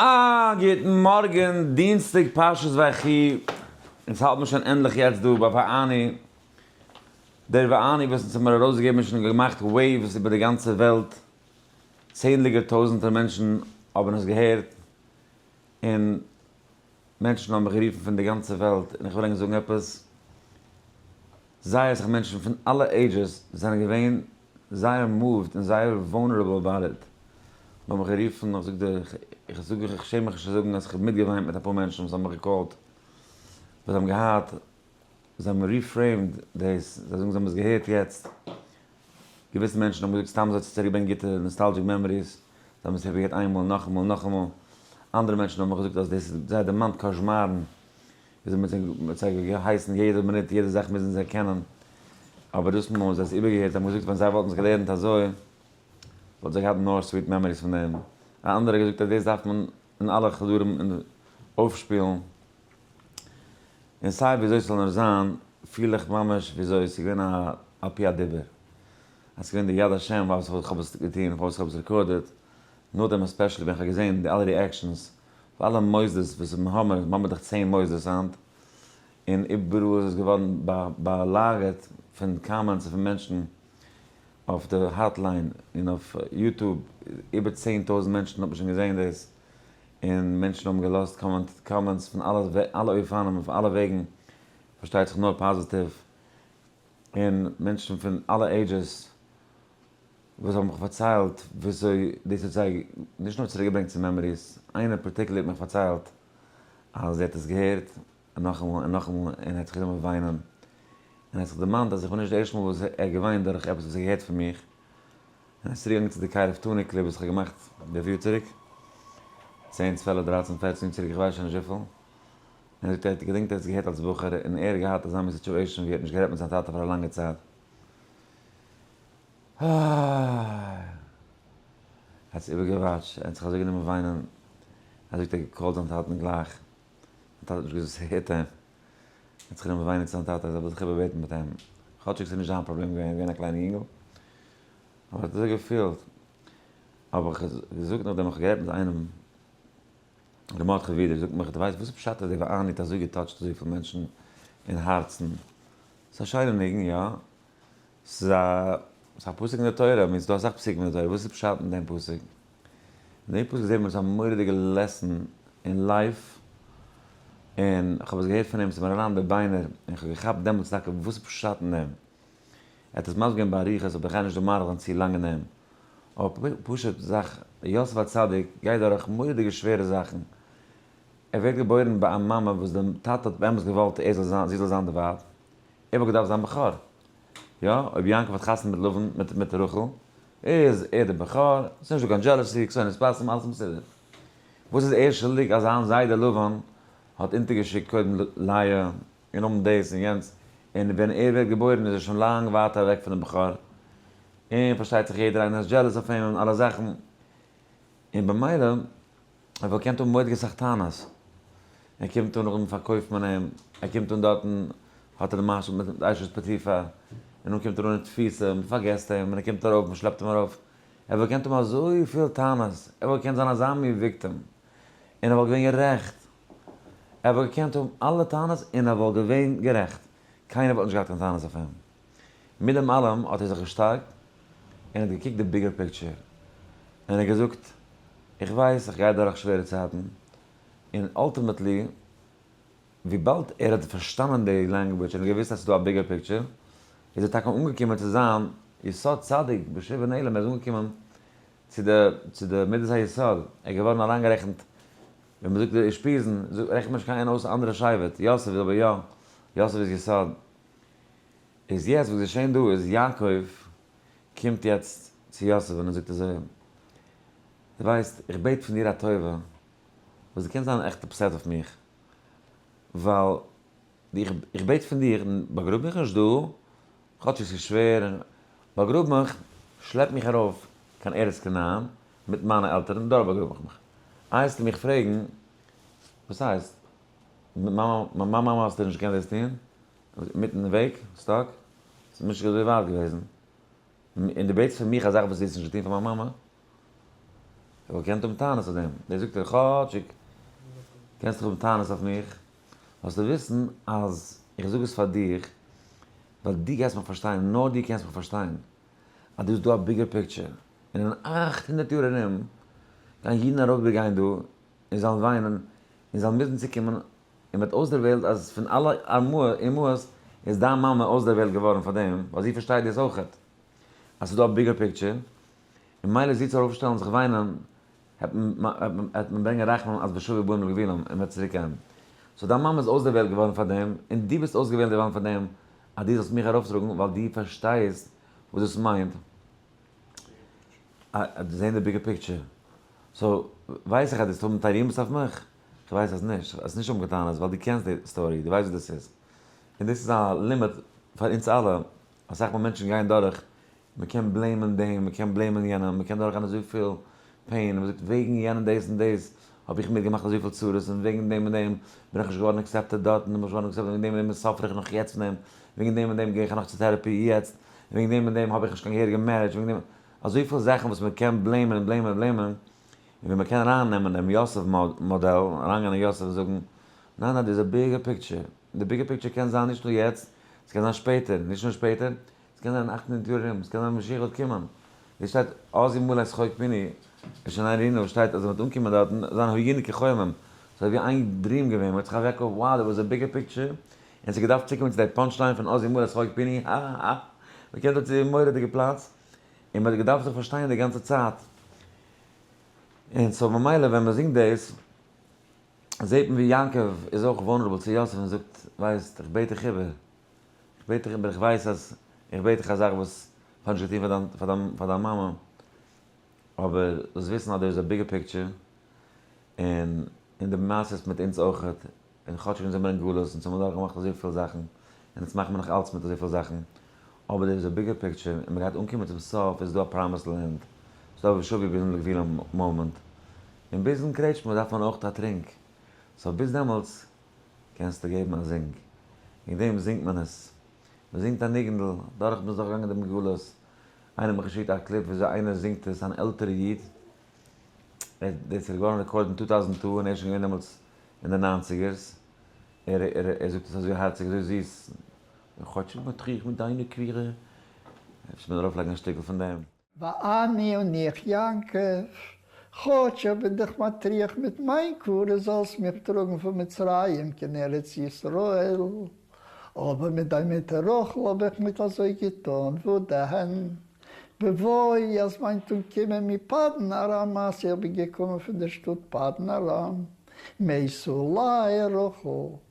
א גוטן מארגן, דינסטאג פרשת ויחי, אונז האלט מיר שוין ענדליך יעצט דא ביי ואני, דער ואני וואס אונז האט מיר ארויסגעגעבן איז שוין געמאכט וועיווס איבער די גאנצע וועלט, צענדליגער טויזענטער מענטשן האבן עס געהערט, און מענטשן האבן מיך גערופן פון די גאנצע וועלט און איך וויל ענק זאגן עפעס, זייער אסאך מענטשן פון אלע עידזשעס זענען געווען זייער מאווד און זייער וואלנערעבל אבאוט איט, מ'האט מיך גערופן, איך זאג דיר, איך זאג איך שעם מיך נישט צו זאגן אז איך האב מיטגעוויינט מיט אפאר מענטשן וואס האבן מיך געקאלט, וואס זיי האבן געהאט, זיי האבן ריפרעימד דאס, זיי זאגן זיי האבן עס געהערט יעצט, געוויסע מענטשן האבן געזאגט סתם אזוי צו צוריקברענגען גוטע נאסטאלדזשיק מעמאריס, זיי האבן עס זיך געהערט איינמאל, נאכאמאל, נאכאמאל. אנדערע מענטשן האבן געזאגט אז דאס האט זיי דערמאנט קאשמארן, וויאזוי מ'האט זיי מ'האט זיי געהייסן יעדע מינוט יעדע זאך מוזן זיי קענען. אבער דאס מאל האבן זיי עס איבערגעהערט, זיי האבן געזאגט ווען זיי וואלטן עס געלערנט אזוי, וואלטן זיי געהאט נאר סוויט מעמאריס פון דעם. א אנדערע האט געזאגט אז דאס דארף מען אין אלע חדרים אויפשפילן. און סיי וויאזוי ס'זאל נאר זיין, פיל איך ממש וויאזוי ס'איז געווען א פי הדיבור. אז ס'איז געווען די יד השם פארוואס איך האב עס געטון, פארוואס איך האב עס רעקארדעד. נאכדעם עספעשעלי ווען איך האב געזען די אלע ריעקשאנס פון אלע מוסדות וואס האבן האמער, מיר האבן דאך צען מוסדות היינט, און איבעראל איז עס געווארן באלאגערט פון קאמענטס און פון מענטשן אויף די האטליין און אויף יוטוב, איבער צען טויזנט מענטשן האבן שוין געזען דאס, און מענטשן האבן געלאזט קאמענטס פון אלע אופנים אויף אלע וועגן, פארשטייט זיך נאר פאזיטיוו, און מענטשן פון אלע עידזשעס וואס האבן מיך פארציילט וויאזוי דאס האט זיי נישט נאר צוריק געברענגט צו מעמאריס, איינער פארטיקולער האט מיך פארציילט אז זי האט עס געהערט נאכאמאל און נאכאמאל און האט זיך גענומען וויינען, און האט זיך דערמאנט אז איך בין נישט די ערשטע מאל וואס ער האט געוויינט דורך עפעס וואס ער האט געהערט פון מיך. און עס צוריקגעגאנגען צו די קייט אוו טוני קליפ וואס איך האב געמאכט דער יאר צוריק, צען צוועלף דרייצן פערצן יאר צוריק איך ווייס שוין נישט וויפיל, און ער זאגט ער האט געדענקט ער האט עס געהערט אלס בחור און ער האט געהאט אזא מין סיטשועישן ווי ער האט נישט גערעדט מיט זיין טאטע פאר א לאנגע צייט, אוי. ער האט עס איבער געוואטש ער האט זיך אזוי גענומען וויינען, ער זאגט ער האט געקאלט זיין טאטן גלייך, זיין טאטע האט נישט געוואוסט וואס ער הערט אים, ער האט זיך גענומען וויינען צו זיין טאטע, ער וויל זיך איבער בעטן מיט אים, כאטשיג עס איז נישט זיין פראבלעם געווען, ער איז געווען א קליינע יונגעל, האב איך אזוי געפילט, האב איך געזאגט נאכדעם איך האב גערעדט מיט איינעם, ר' מרדכי ווידער זאגט מיך, דו ווייסט וואס פשט אז די ואני האט אזוי געטאטשט אזויפיל מענטשן אין הארצן? ס'איז א שיינע ניגון, יא, ס'איז א, ס'איז א פסוק אין די תורה, מין ס'דא אסאך פסוקים אין די תורה, וואס איז פשט אין דעם פסוק? אין דעם פסוק זעט מען עפעס א מורא'דיגע לעסן אין לייף, און איך האב עס געהערט פון אים, ס'איז מיר אריין אין די ביינער, און איך האב געכאפט דעמאלטס טאקע וואס איז פשט אין דעם. ער האט עס מסביר געווען באריכות אבער איך גיי נישט דא מאריך זיין צו לאנג אין דעם אבער פשוט זאך יוסף הצדיק גייט דורך מורא'דיגע שווערע זאכן ער ווערט געבוירן ביי א מאמע וואס די טאטע האט באמת געוואלט ער זאל זיין זי זאל זיין די ווייב ער וואלט געדארפט זיין בכור יא אויב יעקב האט חתונה מיט לבן מיט מיט רחל איז ער די בכור ס'איז נישט דא קיין דזשעלעסי קסונות פסים אלעס מסודר וואס איז ער שולדיג אז זיין זיידע לבן האט אונטערגעשיקט קודם לאה און האבן דאס און יענץ, און ווען ער ווערט געבוירן איז ער שוין לאנג ווייט אוועק פון דעם בחור, און פארשטייט זיך יעדער איינער איז דזשעלעס אויף אים און אלע זאכן, און במילא ער וואלט געקענט האבן ועוד געסאך טענות, ער קומט אן נאכדעם פארקויפט מען אים, ער קומט אן דארטן האט ער די משהו מיט די אשת פוטיפר, און דאן קומט ער אן אין תפיסה, מען פארגעסט אים, און ער קומט ארויף, מען שלעפט אים ארויף, ער וואלט געקענט האבן אזויפיל טענות, ער וואלט געקענט זיין אזא מין וויקטעם, און ער וואלט געווען גערעכט. ער וואלט געקענט האבן אלע טענות און ער וואלט געווען גערעכט, קיינער וואלט נישט געהאט קיין טענות אויף אים. מיט דעם אלעם האט ער זיך געשטארקט און האט געקוקט די ביגער פיקטשער און ער האט געזאגט, איך ווייס איך גיי דורך שווערע צייטן, און אלטימעטלי וויבאלד ער האט פארשטאנען די לענגוויטש און ער האט געוואוסט אז ס'איז דא א ביגער פיקטשער, איז ער טאקע אנגעקומען צו זיין יסוד צדיק בשובו נעלם, ער איז אנגעקומען צו די מידת היסוד, ער איז געווארן אריינגערעכנט ווען מען זאגט די אושפיזין, רעכנט מען נישט קיין איין אויס א אנדערע שבט, יוסף איז אבער יא, יוסף איז יסוד. איז יעצט וואס איז געשען דא איז יעקב קומט יעצט צו יוסף און ער זאגט אזוי אים, דו ווייסט, איך בעט פון דיר א טובה, וואס דו קענסט זיין עכט אפסעט אויף מיך, ווייל איך בעט פון דיר, באגראב מיך נישט דא, כאטש עס איז שווער, באגראב מיך, שלעפ מיך ארויף קיין ארץ כנען מיט מיינע עלטערן, דארט באגראב איך מיך. אייזטו מיך פרעגן, וואס הייסט? מיט מיין מאמע האסטו נישט געקענט דאס טון? אינמיטן וועג? סטאק? ס'איז נישט אזוי ווייט געוועזן. און דו בעטסט פון מיך א זאך וואס דו האסט נישט געטון פאר מיין מאמע? איך וואלט געקענט האבן טענות אויף דעם. דער זאגט דיר, כאטשיג קענסטו האבן טענות אויף מיך, זאלסטו וויסן אז איך זאג עס פאר דיר ווייל דו גייסט מיך פארשטיין, נאר דו קענסט מיך פארשטיין, אז דא איז דא א ביגער פיקטשער, און אין אַכט הונדערט יאר ארום גייען אידן ארויפבעגיין דא און זיין וויינען און זיין מוזן צוקומען און וועט אויסדערוועלט אז פון אלע אמהות איז דיין מאמע אויסדערוועלט געווארן פאר דעם ווייל זי פארשטייט דאס אויכעט אז ס'איז דא א ביגער פיקטשער און מילא זי צו ארויפשטעלן זיך וויינען העט מען ברענגען רחמים אז בשובו בנים לגבולם און מען וועט צוריק קערן. סאו דיין מאמע איז אויסדערוועלט געווארן פאר דעם און דו ביסט אויסגעוועלט געווארן פאר דעם אז דו זאלסט מיך ארויפטראגן ווייל דו פארשטייסט וואס דאס מיינט זעהן די ביגער פיקטשער. סאו ווייס איך אז דו זאלסט האבן תרעומות אויף מיך? איך ווייס אז נישט. האסט נישט האבן קיין טענות ווייל דו קענסט די סטארי, דו ווייסט וואס דאס איז. און דאס איז א לימוד פאר אונז אלע. אסאך מאל מענטשן גייען דורך מען קען בלעימען דעם, מען קען בלעימען יענעם, מען קען דורכגיין אזויפיל פעין, און מען זאגט וועגן יענעם דאס און דאס האב איך מיר געמאכט אזויפיל צרות, און וועגן דעם און דעם בין איך נישט געווארן עקסעפטעד דארט, און נישט געווארן עקסעפטעד, און וועגן דעם און דעם סאפער איך נאך יעצט פון דעם, וועגן דעם און דעם גיי איך נאך צו טערעפי יעצט, און וועגן דעם און דעם האב איך נישט קיין געהעריגע מערידזש, וועגן דעם, אזויפיל זאכן וואס מען קען בלעימען און בלעימען און בלעימען, און ווען מען קען ארייננעמען דעם יוסף מאדעל, אריינגיין אין יוסף און זאגן, ניין ניין דא איז א ביגער פיקטשער, און די ביגער פיקטשער קען זיין נישט נאר יעצט, עס קען זיין שפעטער, נישט נאר שפעטער, עס קען זיין אַכט הונדערט יאר ארום, עס קען זיין משיח וועט קומען, ווי עס שטייט אז ימלא את חוק פיני עס שוין איין רינו וואס שטייט אז ער וועט אנקומען דארטן זיין היגענע כחומים ס'איז אזוי ווי איין דריעם געווען מ'האט זיך אוועק אויף wow דער וואס א ביגער פיקטשער און עס האט געדארפט צוקומען צו די פאנטש ליין פון אז ימלא את חוק פיני האהאהא מ'קומט דארט צו מורא'דיגע פלאץ און מ'האט געדארפט זיך פארשטיין די גאנצע צייט און סאו ממילא ווען מ'זינגט דאס זעהט מען ווי יעקב איז אויך וואנרעבל צו יוסף און זאגט ווייסט איך בעט דיך איבער. איך בעט דיך אבער איך ווייס אז איך בעט דיך א זאך וואס כ'האב נישט געטון פאר דיין פאר דיין פאר דיין מאמע אבער זאלסט וויסן אז דער איז א ביגער פיקטשער און און די מעשה איז מיט אונז אויכעט און כאטשיג אונז זעמיר אין גלות אונז האמיר דורך געמאכט אזויפיל זאכן און אונז מאכן מיר נאך אלץ מיט אזויפיל זאכן אבער דער איז א ביגער פיקטשער און מ'גייט אנקומען צום סוף איז דא א פראמיסד לענד ס'איז דא וואס שוויגער ביזן לגבול המאמענט און ביזן קרעטשמע דארף מען אויכעט א טרינק סאו ביז דעמאלטס קענסטו געבן א זינג? וועגן דעם זינגט מען עס. מען זינגט א ניגונ'דל, דורך מ'איז דורך געגאנגען דעם גלות. איינער האט מיר געשיקט א קליפ וויאזוי איינער זינגט עס, אן עלטערע איד. דאס איז געווארן רעקארדעד אין טו טאוזענד טו, און ער איז שוין געווען דעמאלטס אין די ניינציגערס. ער זאגט עס אזוי הארציג, אזוי זיס. כאטשיג מטריח מיט דיינע קווירע. אפשר מען ארויפלייגן א שטיקל פון דעם. ואני און איך יעקב, כאטש איך בין דיך מטריח מיט מיין קבורה זאלסט מיך טראגן פון מצרים קיין ארץ ישראל, אבער מיט דיין מוטער רחל האב איך ניט אזוי געטאן, וואו דען, בבואי, אז מיין טאג קומען מפדן ארם, מעשה איך בין געקומען פון דער שטאט פדן ארם, מעשה אולי, רחל.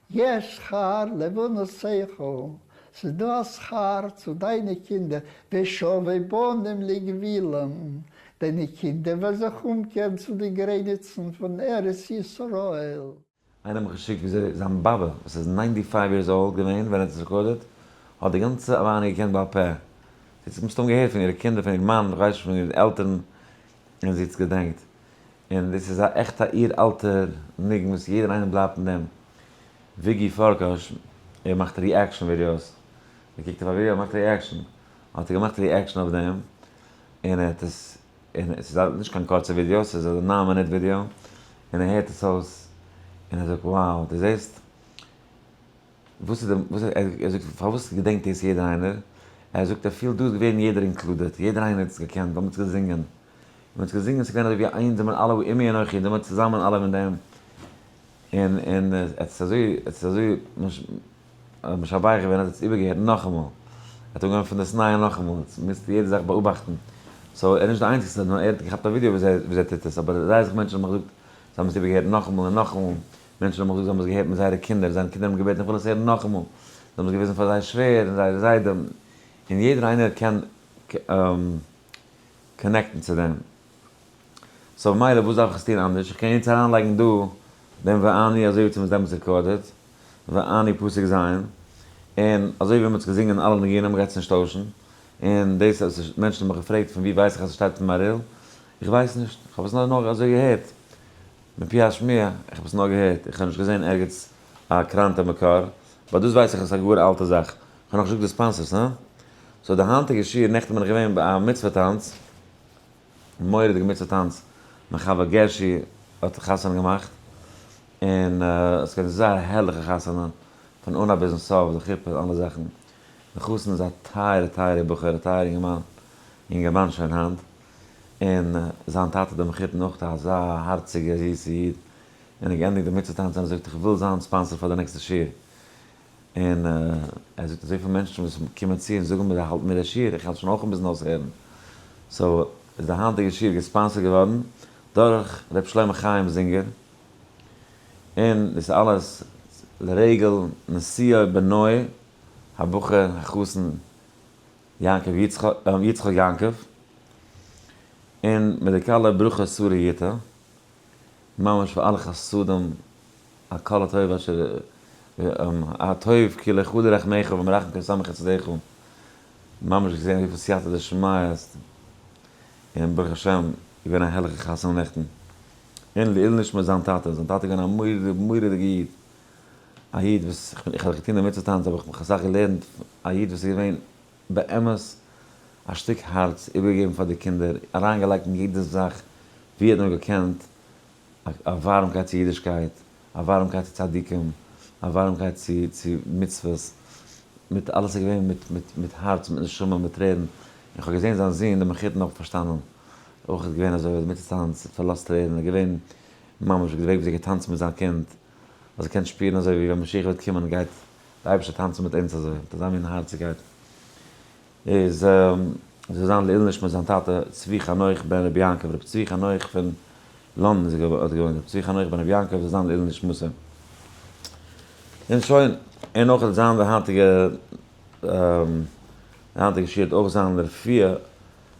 יש שכר לבנות שכל, ס'איז דא א שכר צו דיינע קינדער, ושובבי בנים לגבילם, דיינע קינדער וועלן זיך אומקערן צו די גרעניצן פון ארץ ישראל. איינער האט מיך געשיקט וויאזוי זיין באבע וואס איז ניינטי פייוו יערס אולד געווען ווען ער האט עס רעקארדעד, האט די גאנצע אליין געקענט בעל פה, זי האט עס מסתם געהערט פון אירע קינדער, פון איר מאן, כ'ווייס נישט פון אירע עלטערן, און זי האט עס געדענקט. און דאס איז א עכטע אור אלטער ניגון וואס יעדער איינער בלייבט אין דעם. וויגי פארקאש ער מאכט ריעקשאן ווידיאוס, מען קוקט אויף א ווידיאו ער מאכט ריעקשאן, האט ער געמאכט ריעקשאן אויף דעם, און ער האט עס, און עס איז נישט קיין קורצע ווידיאו, עס איז א ניין מינוט ווידיאו, און ער הערט עס אויס, און ער זאגט, wow, דו זעסט? וואס איז די וואס איז ער ער זאגט פארוואס געדענקט דאס יעדער איינער? ער זאגט ער פילט דא איז געווען יעדער אינקלודעט יעדער איינער האט עס געקענט ווייל מען האט עס געזינגען מען האט עס געזינגען ס'איז געווען אזוי ווי איינס זעמער אלע ועמי אנכי זעמער צוזאמען אלע מיט דעם און און ער האט עס אזוי ער האט עס אזוי משבח געווען ער האט עס איבערגעהערט נאכאמאל ער האט אנגעהויבן פון דאס נייע נאכאמאל מוזט יעדע זאך באאבאכטן סאו ער איז נישט די איינציגסטער נאר ער האט געכאפט א ווידיאו וויאזוי ער טוט עס אבער זייער אסאך מענטשן האבן געזאגט זיי האבן עס איבערגעהערט נאכאמאל און נאכאמאל מענטשן האבן געזאגט זיי האבן עס געהערט מיט זייערע קינדער, זיינע קינדער האבן געבעטן איך וויל עס הערן נאכאמאל, זיי האבן עס געוויזן פאר זייער שווער און זייער זיידע, און יעדער איינער קען קאנעקטן צו דעם, סאו מילא וואס דארף איך עס טון אנדערש, איך קען יעצט אריינלייגן דא דעם ואני אזוי ווי צו מ'האט דעמאלטס רעקארדעד ואני פוסק ז', און אזוי ווי מ'האט עס געזינגען אלע ניגונים גייט עס נישט טוישן, און דאס אז מענטשן האבן מיך געפרעגט פון ווי ווייס איך אז עס שטייט אין מהריל, איך ווייס נישט, איך האב עס נאר אזוי געהערט, מפי השמיעה, איך האב עס נאר געהערט, איך האב נישט געזען ערגעץ א קראנטע מקור, באט דאס ווייס איך אז עס איז א גאר אלטע זאך, איך האב נאך נישט געזאגט די ספאנסערס, הא? סאו די היינטיגע שיעור, נעכטן בין איך געווען ביי א מצוה טאנץ, א מורא'דיגע מצוה טאנץ, מיין חבר גערשי האט חתונה געמאכט, און עס געווען זייער א הערליכע חתונה, פון אנהייב ביזן סוף, די חופה און אלע זאכן, די חתן איז א טייערע טייערע בחור, א טייערע אינגערמאן, אינגערמאן שוין היינט, און זיין טאטע דער מחותן אויך אזא הארציגער זיסער איד, און ער האט געענדיגט די מצוה טאנץ און ער זאגט איך וויל זיין ספאנסער פאר די נעקסטע שיעור, און ער זאגט אזויפיל מענטשן וואס קומען צו און זאגן מיר האלט מיר די שיעור, איך העל שוין אויך אן ביזן אויסהערן, סאו איז די היינטיגע שיעור געספאנסערט געווארן דורך ר' שלמה חיים זינגער, און דאס אלעס לרגל נסיעה בנוי הבחור החתן יעקב יצחק יעקב, און מיט די כלה ברכה שרה יוטה, ממש פאר אלע חסדים, הכל הטוב אשר הטוב כי לך הודו רחמיך ומרחם כל סמך חסדיך, ממש געזען וויפיל סייעתא דשמיא עס איז, און ברוך השם געווען א הערליכע חתונה נעכטן, און לעיל נשמת זיין טאטע, זיין טאטע איז געווען א מורא'דיגע איד. א איד וואס איך האב זיך געטון דערמיט צו טאנצן האב איך מיך אסאך געלערנט, א איד וואס איז געווען באמת א שטיק הארץ, איבערגעגעבן פאר די קינדער, אריינגעלייגט אין יעדע זאך ווי ער האט נאר געקענט, א ווארעמקייט צו אידישקייט, א ווארעמקייט צו צדיקים, א ווארעמקייט צו צו מצוות, מיט אלעס איז געווען מיט מיט מיט הארץ, מיט נשמה, מיט טרערן, און איך האב געזען זיין זון דער מחותן האט פארשטאנען אויך איז געווען אזוי, ער האט דערמיט צו טאנץ, ער האט פארלאזט טרערן, ער איז געווען ממש ווי די וועג וואס ער האט געטאנצן מיט זיין קינד. אז ער קען שפירן אזוי ווי ווען משיח וועט קומען גייט דער אייבערשטער טאנצן מיט אונז אזוי מיט אזא מין הארציגקייט איז זאל זיין לעיל נשמת זיין טאטע צבי חנוך בן רבי יעקב רבי צבי חנוך פון לאנדאן איז האט געוואוינט רבי צבי חנוך בן רבי יעקב זאל זיין לעיל נשמת אים און שוין און אויך זיין די היינטיגע די היינטיגע שיעור וועט אויך זיין לרפואה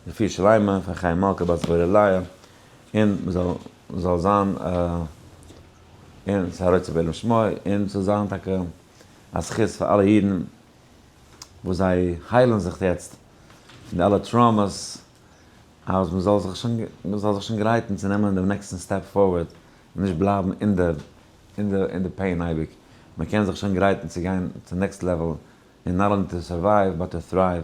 רפואה שלימה פאר חיים מלכה בת זבולליה און מ'זאל זאל זיין און ס'זאל רצוי בעולם שמו און ס'זאל זיין טאקע א זכות פאר אלע אידן וואס זיי היילן זיך יעצט פון די אלע טראומעס אז מ'זאל זיך שוין מ'זאל זיך שוין גרייטן צו נעמען דעם נעקסטן סטעפ פארווערד און נישט בלייבן אין די אין די אין די פעין אייביג מ'קען זיך שוין גרייטן צו גיין צום נעקסט לעוועל און נאט אנלי טו סורווייוו באט טו טרייוו.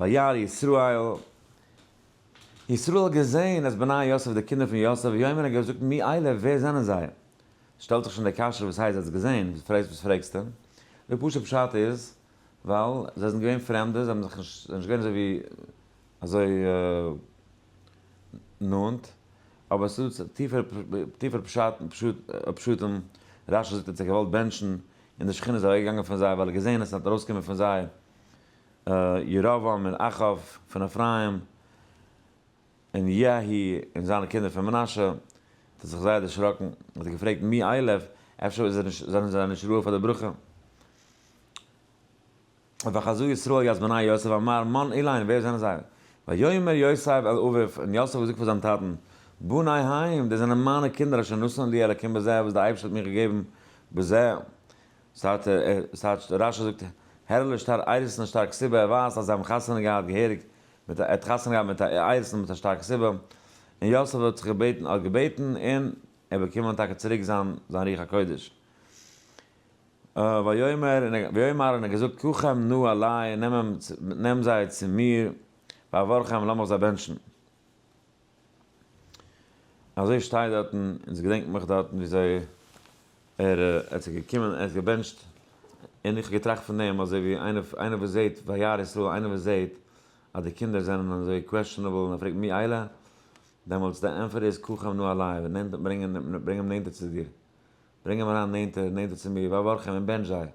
וירא ישראל, ישראל האט געזעהן אז בני יוסף די קינדער פון יוסף, ויאמר ער האט געזאגט מי אלה ווער זענען זיי? שטעלט זיך שוין די קשיא וואס הייסט זיי האט עס געזעהן, וואס פרעגסט וואס פרעגסטו? די פשוט'ע פשט איז ווייל זיי זענען געווען פרעמדע, זיי האבן זיך נישט, זיי זענען נישט געווען אזוי ווי אזוי נאנט, אבער עס איז דא טיפערע טיפערע פשטים, רשי זאגט ער האט זיי געוואלט בענטשן און די שכינה איז אוועק געגאנגען פון זיי ווייל ער האט געזעהן עס און האט ארויס געקומען פון זיי, ירבעם און אחאב פון אפרים, און יהי' און זיינע קינדער פון מנשה, האט ער זיך זייער דערשראקן, און האט געפרעגט, מי אלה, אפשר איז ער נישט, זענען זיי נישט ראוי פאר די ברכה? וחזו ישראל יעש בני יוסף אמר, מן אלה הן, ווער זענען זיי? ויאמר יוסף אל אביו, און יוסף האט געזאגט פאר זיין טאטן, בני הן, דאס זענען מיינע קינדער אשר נתן לי אלקים בזה, וואס דער אייבערשטער האט מיר געגעבן בזה, סארט ער סארט רשי זאגט הערליש שטאר איירעסן א שטארק סיבה ער ווייזט אז זיי האבן חתונה געהאט געהעריג מיט א ער האט חתונה געהאט מיט א איירעסן מיט א שטארקע סיבה און יוסף האט זיך געבעטן האט געבעטן און ער באקומען טאקע צוריק זיין זיין רוח הקודש ויאמר ויאמר און ער האט געזאגט קחם נא אלי נעם אים נעם זיי צו מיר ואברכם לאמיך זיי בענטשן. אזוי שטייט דארטן און סגעדענקט מיך דארטן וויאזוי ער האט זיך געקומען ער האט געבענטשט און איך האב געטראכט פון דעם אזוי ווי איינער איינער וואס זעהט וירא ישראל איינער וואס זעהט אז די קינדער זענען אזוי קוועשטענעבל און ער פרעגט מי אלה דעמאלטס די ענפער איז קח עמנו אליו נעם ברענג אים נענטער צו דיר ברענג אים אריין נענטער, נענטער צו מיר, ואברך אים און בענטש זיי.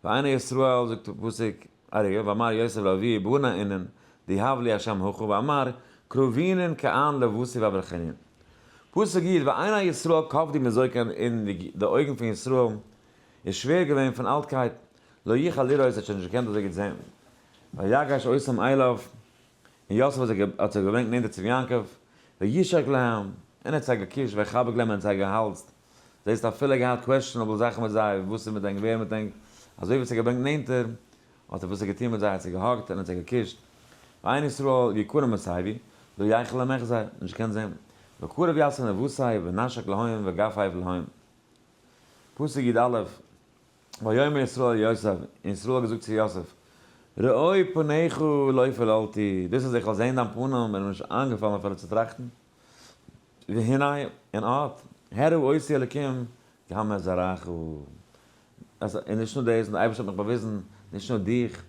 והנה ישראל, זאגט דער פסוק, אריה, ואמר יוסף לאביו בנה אינן, די האב לי השם הכה, ואמר, קרובינן כאן לבסי ואברכינן. פסוק יט, והנה ישראל כבדי מזקן און די אויגן פון ישראל איז שווער געווען פון אלטקייט, לא יכול לראות, ער האט שוין נישט געקענט אזוי גוט זען, ויגש עשם אליו, און יוסף האט זיי האט זיי געברענגט נענטער צום יעקב, וישק להם, און ער האט זיי געקושט, ויחבק להם, און ער האט זיי געהאלזט, זעסט אפילו געהאט קוועשטשענעבל זאכן מיט זיי, וואס איז מיט ענק, ווער מיט ענק, אזוי ווי ער האט זיי געברענגט נענטער, האט ער וואס ער געטון מיט זיי, ער האט זיי געהאגט, און ער האט זיי געקושט, ועין ישראל יקרה מסביבי, לא יחל עמך זיי, נישט געקענט זען, וקרב יעשה נבוסיו, ונשק להם, וגפייו להם. פסוק י א. ויאמר ישראל ליוסף, און ישראל האט געזאגט צו יוסף, ראה פניך לא פיללתי, דאס אז איך וועל זען דיין פנים איז מיר נישט איינגעפאלן אפילו צו טראכטן, והנה, און אט, הראו אותי אלקים כי המה זרעך, אז און נישט נאר דאס, און די אייבערשטער האט מיך באוויזן, נישט נאר דיך,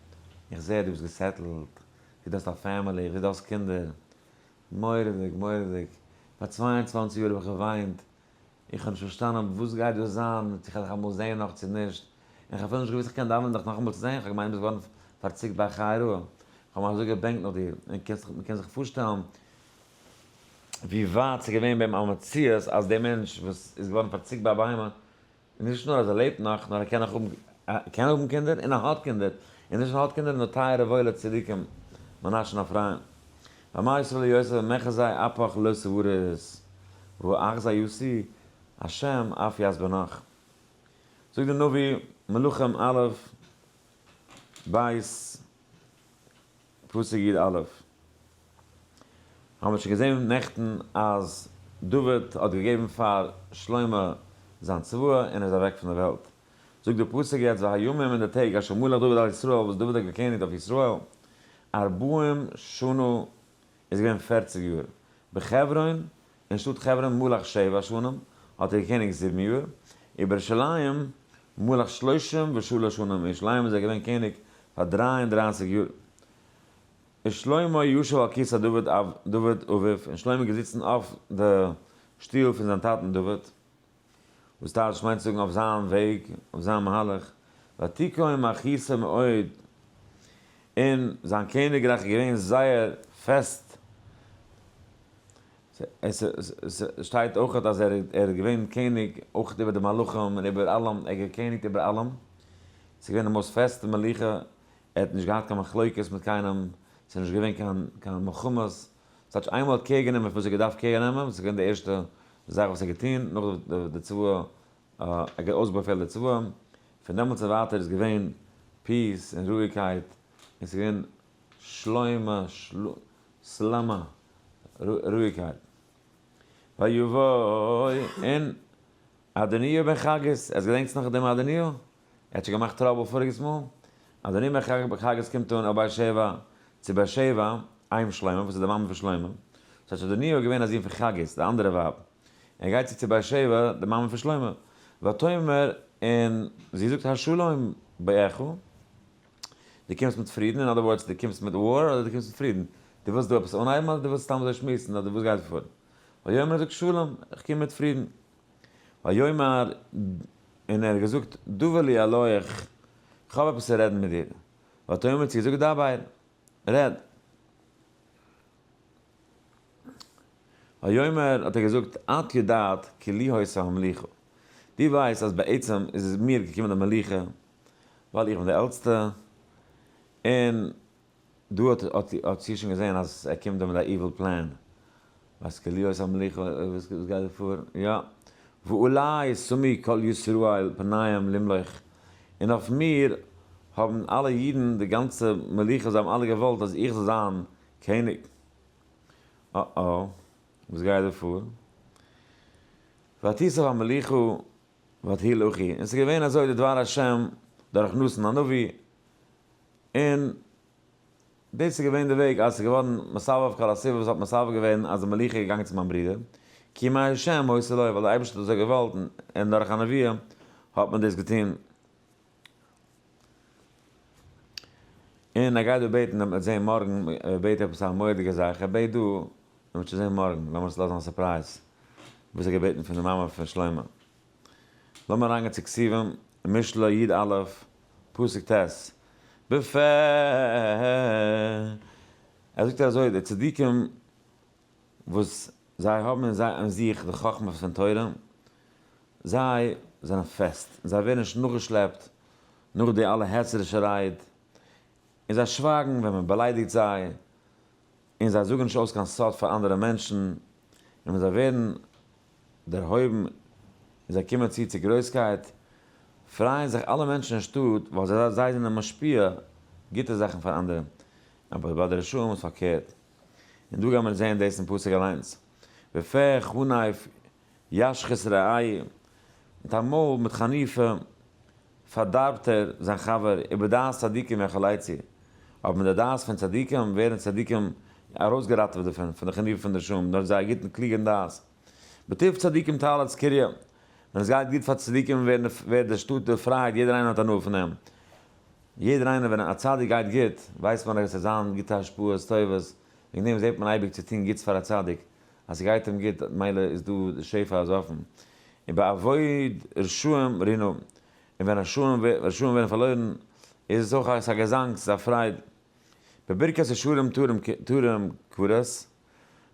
איך זע דו ביסט געסעטלט, איך זע דו האסט א פעמילי, איך זע דו האסט קינדער, מורא'דיג, מורא'דיג, פאר צוויי און צוואנציג יאר האב איך געוויינט, איך האב נישט פארשטאנען וואס גייט דא זיין, צו כ'וועל דיך אמאל זעהן נאך צו נישט, און כ'האב אפילו נישט געוואוסט כ'קען דאווענען דיך נאכאמאל צו זעהן, כ'האב געמיינט דו ביסט געווארן פארציקט ביי חי' רעה, כ'האב מיך אזוי געבענקט נאך דיר, און מ'קען זיך פארשטעלן ווי ווייט ס'איז געווען ביים א מציאות אז דער מענטש וואס איז געווארן פארציקט ביי א בהמה און נישט נאר אז ער לעבט נאך, נאר ער קען נאך האבן, קען האבן קינדער, און ער האט קינדער, און נישט נאר האט קינדער, נאר טייערע וואוילע צדיקים, מנאשן אפרים. ואמר ישראל אל יוסף ומחזי אפך לא סברות, והוא אחזה יוסי, השם אף יעש בנך. זאגט די נביא, מלכים א', בית, פסוק י א, האבן מיר שוין געזען נעכטן אז דוד האט געגעבן פאר שלמה זיין צוואה און ער איז אוועק פון דער וועלט, זאגט דער פסוק יעצט והימים און די טעג אשר מלך דוד על ישראל וואס דוד האט געקעניגט אויף ישראל ארבעים שנה איז געווען פערציג יאר בחברון, אין שטאט חברון מלך שבע שנים האט ער געקעניגט זיבן יאר, איבער ירושלים מלך שלושים ושלש שנים, אין ירושלים איז ער געווען קעניג פאר דריי און דרייסיג יאר. און שלמה ישב על כסא דוד אביו, און שלמה איז געזיצן אויף די שטוהל פון זיין טאטן דוד. וואס טייטש מיינט צו זאגן אויף זיין וועג, אויף זיין מהלך, ותקום אחיסה מאוד, און זיין קעניגרייך איז געווען זייער פעסט, עס שטייט אויך אז ער איז געווען קעניג אויך איבער די מלכים און איבער אלעם, ער האט געקעניגט איבער אלעם, עס איז געווען די מאוסט פעסטע מלוכה, ער האט נישט געהאט קיין מחלוקת מיט קיינעם, עס איז נישט געווען קיין מלחמות, ס'טייטש איינמאל ער האט קער גענומען וואס ער האט געדארפט קער נעמען, וואס איז געווען די ערשטע זאך וואס ער האט געטון, נאך די צוואה, ער האט אויסבאפעלט די צוואה, פון דעמאלטס און ווייטער איז געווען פיס און רואיגקייט, און ס'איז געווען שלומה סלמה, רואיגקייט. ויבוא, און אדוניהו בן חגית, אז געדענקסט נאך דעם אדוניהו? ער האט שוין געמאכט טראבל פאריגעס מאל, אז דער נומער חג בחגת קומט אן אויף באר שבע, צו באר שבע, איים שלמה, וואס איז די מאמע פון שלמה, ס'האט שוין דערניא אויך געווען א זון פון חגית, די אנדערע ווייב, ער גייט צו צו באר שבע, די מאמע פון שלמה, ותאמר, און זי זאגט השלום בעירך, דו קומסט מיט פרידן, אין אדער ווארדס, דו קומסט מיט וואר, אדער דו קומסט מיט פרידן, דו ווילסט דא עפעס אנהייבן, אדער דו ווילסט סתם אזוי שמועסן, אדער וואס גייט פאר, ויאמר זאגט שלום, איך קום מיט פרידן. ויאמר, און ער האט געזאגט, דבר לי אלוהיך, איך האב עפעס צו רעדן מיט דיר. ואתה אומר, צו געזאגט, דבר, רעד. ויאמר, האט ער געזאגט, את יודעת כי לי הייתה המלוכה, דו ווייסט אז בעצם איז מיר געקומען די מלוכה, ווייל איך בין דער עלטסטער, און דא האט איר שוין געזען אז ער קומט דא מיט א איוויל פלען? ווייסט כליות המלוכה וואס גייט דא פאר? יא. ואולי שמי כל ישראל פניהם למלוך, און אויף מיר האבן אלע אידן, די גאנצע מלוכה, זיי האבן אלע געוואלט אז איך זאל זיין קעניג. אה אה, וואס גייט דא פאר? ותיסב המלוכה ותהי לחי, און ס'איז געווען אזוי די דבר השם דורך נתן הנביא, און דאס איז געווען די וועג אז עס איז געווארן מסבב כל הסובב וואס האט מסבב געווען אז די מלוכה איז געגאנגען צו מיין ברודער, כי מה ה' עושה לו ווייל דער אייבערשטער האט אזוי געוואלט און דורך א נביא האט מען דאס געטון. און ער גייט דא בעטן וועט מען זען מארגן, ער בעט עפעס א מורא'דיגע זאך, ער בעט דא, מען וועט שוין זען מארגן, לאמיר עס לאזן א סורפרייז, וואס ער האט געבעטן פון די מאמע פון שלמה. לאמיר אריינגיין צו כתובים, משלי יד א', פסוק ט', בפ, ער זאגט אזוי, די צדיקים וואס זיי האבן אין זיי אין זיך די חכמה פון תורה, זיי זענען פעסט, זיי ווערן נישט נאכגעשלעפט נאך די אלע העצערישע רייד, און זיי שווייגן ווען מען באליידיגט זיי, און זיי זאגן נישט אויס קיין סוד פאר אנדערע מענטשן, און ווען זיי ווערן. דערהויבן און זיי קומען צו צו גרויסקייט, פרייען זיך אלע מענטשן אין שטאט ווייל זיי זיי זענען משפיע גוטע זאכן פאר אנדערע, אבער ביי די רשעים איז פארקערט, און דא גייען מיר זען דאס אין פסוק אליינס, ופה חניף ישחית רעי', מיט א מויל מיט חניפה פארדארבט ער זיין חבר איבער דעת צדיקים איך עליי צו אבער מיט די דעת פון צדיקים ווערן צדיקים ארויסגעראטעוועט דערפון פון די כניעה פון די שמים דורך זייער גוטן קלוגען דעת בטוב צדיקים תהלת קריה ווען עס גייט גוט פאר צדיקים ווערט די שטאט דערפרייט יעדער איינער האט הנאה פון אים יעדער איינער ווען א צדיק גייט גוט ווייסט מען אז עס וועט זיין גוטע השפעות טובות וועגן דעם זעט מען אייביג צו טון גוטס פאר א צדיק אז ס'גייט אים גוט מילא איז דא די שפע אז אפן, און ביי אבוד רשעים רינן, און ווען רשעים ווערן פארלוירן איז עס אויך א געזאנג, ס'איז א פרייד. בברכת ישרים תורם כברת,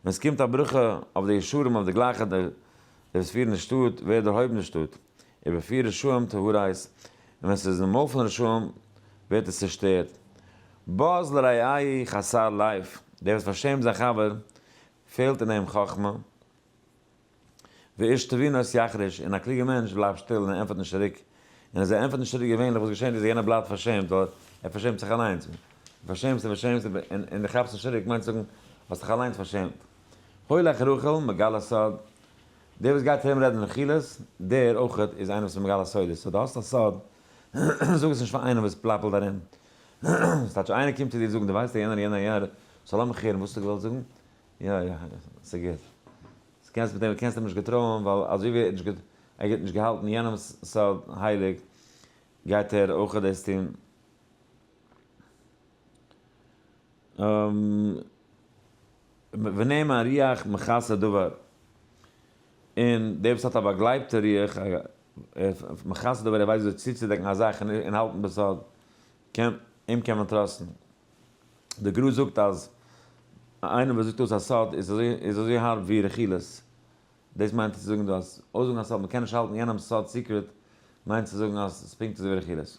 ווען ס'קומט א ברכה אויף די ישרים אויף די גלייכע די וואס פירן די שטאט ווערט דערהויבן די שטאט, ובפי רשעים תהרס, און ווען ס'איז אין מויל פון רשעים ווערט עס צושטערט. בז לרעי' חסר לייף, דער וואס פארשעמט זיין חבר פעלט אין אים חכמה, ואיש תבינות יחריש, און א קלוגער מענטש בלייבט שטיל און ענטפערט נישט צוריק, און אז ער ענטפערט נישט צוריק געווענליך וואס געשענט איז יענער בלייבט פארשעמט ווייל ער פארשעמט זיך אליינס, און פארשעמסט און פארשעמסט און און די כאפסט נישט צוריק מיינט זאגן האסט דיך אליינס פארשעמט. הולך רוכל מגלה סוד, דער וואס גייט ארום רעדן רכילות, דער אויך איז איינער וואס איז מגלה סודות, סאו די האסט א סוד, זאג עס נישט פאר איינעם וואס פלאפלט ארום, ס'טייטש איינער קומט צו דיר זאגן דו ווייסט יענער יענער יענער סאו לאמיך הערן וואס האסטו געוואלט זאגן? יא יא ס'גוט סאו קענסט מיט אים קענסט אים נישט געטרויען ווייל אזוי ווי ער האט נישט געט ער האט נישט געהאלטן יענעמ'ס סוד הייליג גייט ער אויך דאס טון. ונעים הריח מכסה דבר און דער וואס האט א באגלייבטע ריח מחסד אבער ער ווייסט וויאזוי צוצודעקן א זאך און האלטן בסוד, קען, אים קען מען טראסטן. די גרא זאגט אז איינער וואס זאגט אויס א סוד איז אזוי איז אזוי הארב ווי רכילות. דאס מיינט צו זאגן דא אז אויסזאגן א סוד, מען קען נישט האלטן יענעמ'ס סוד סיקרעט, מיינט צו זאגן אז ס'איז פונקט אזוי ווי רכילות.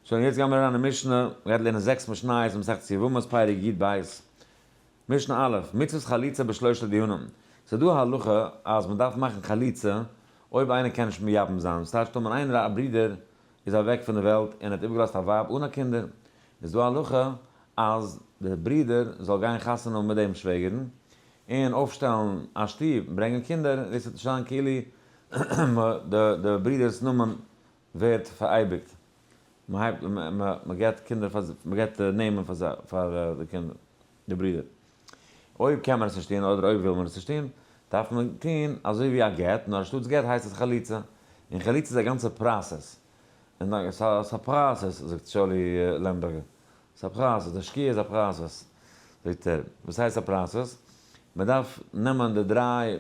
שוין, יעצט גייען מיר אריין אין משנה, מ'גייט לערנען זעקס משניות, מסכת יבמות פרק י ב, משנה א', מצוות חליצה בשלושת דיונים, ס'איז דא א הלכה אז מען דארף מאכן חליצה אויב איינער קען נישט מייבם זיין, ס'הייט שטומען איינער א ברודער איז אוועק פון די וועלט און האט איבערגעלאזט א ווייב אן א קינדער, איז דא א הלכה אז די ברודער זאל גיין חתונה האבן מיט דעם שוועגערן און אויפשטעלן א שטוב, ברענגען קינדער, דאס וועט נישט זיין כאילו די ברודער'ס נאמען ווערט פאראייביגט, מען הייבט, מען געבט קינדער פאר, מען געבט נעמען פאר זיי, פאר די קינדער, די ברידער. אויב קען מען עס נישט טון, אדער אויב וויל מען עס נישט טון, דארף מען טון אזוי ווי א גט, נאר אנשטאטס גט הייסט עס חליצה, און חליצה איז א גאנצע פראסעס, און א, ס'איז א פראסעס, זאגט שאולי לעמבערגער, ס'איז א פראסעס, די שקיעה איז א פראסעס, זאגט ער, וואס הייסט א פראסעס? מען דארף נעמען די דריי.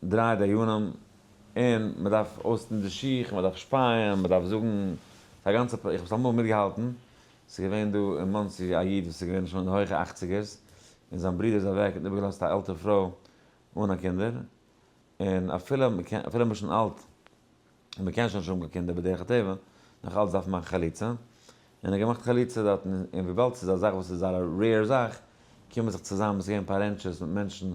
דריי דיינים, און מען דארף אויסטון די שיך, מען דארף שפייען, מען דארף זאגן, ס'איז א גאנצע, איך האב עס אמאל מיטגעהאלטן, ס'איז געווען דא אין מאנסי א איד וואס איז געווען שוין אין די הויכע אכציגערס, און זיין ברודער איז אוועק און איבערגעלאזט א עלטער פרוי אן א קינדער, און אפילו, אפילו מ'איז שוין אלט, און מ'קען שוין נישט האבן קיין קינדער בדרך הטבע, נאך אלץ דארף מען מאכן חליצה, און ער האט געמאכט חליצה דארט, און וויבאלד ס'איז א זאך וואס איז זייער א רעיר זאך, קומען זיך צוזאם, ס'געווען פאר רענטשערס מיט מענטשן,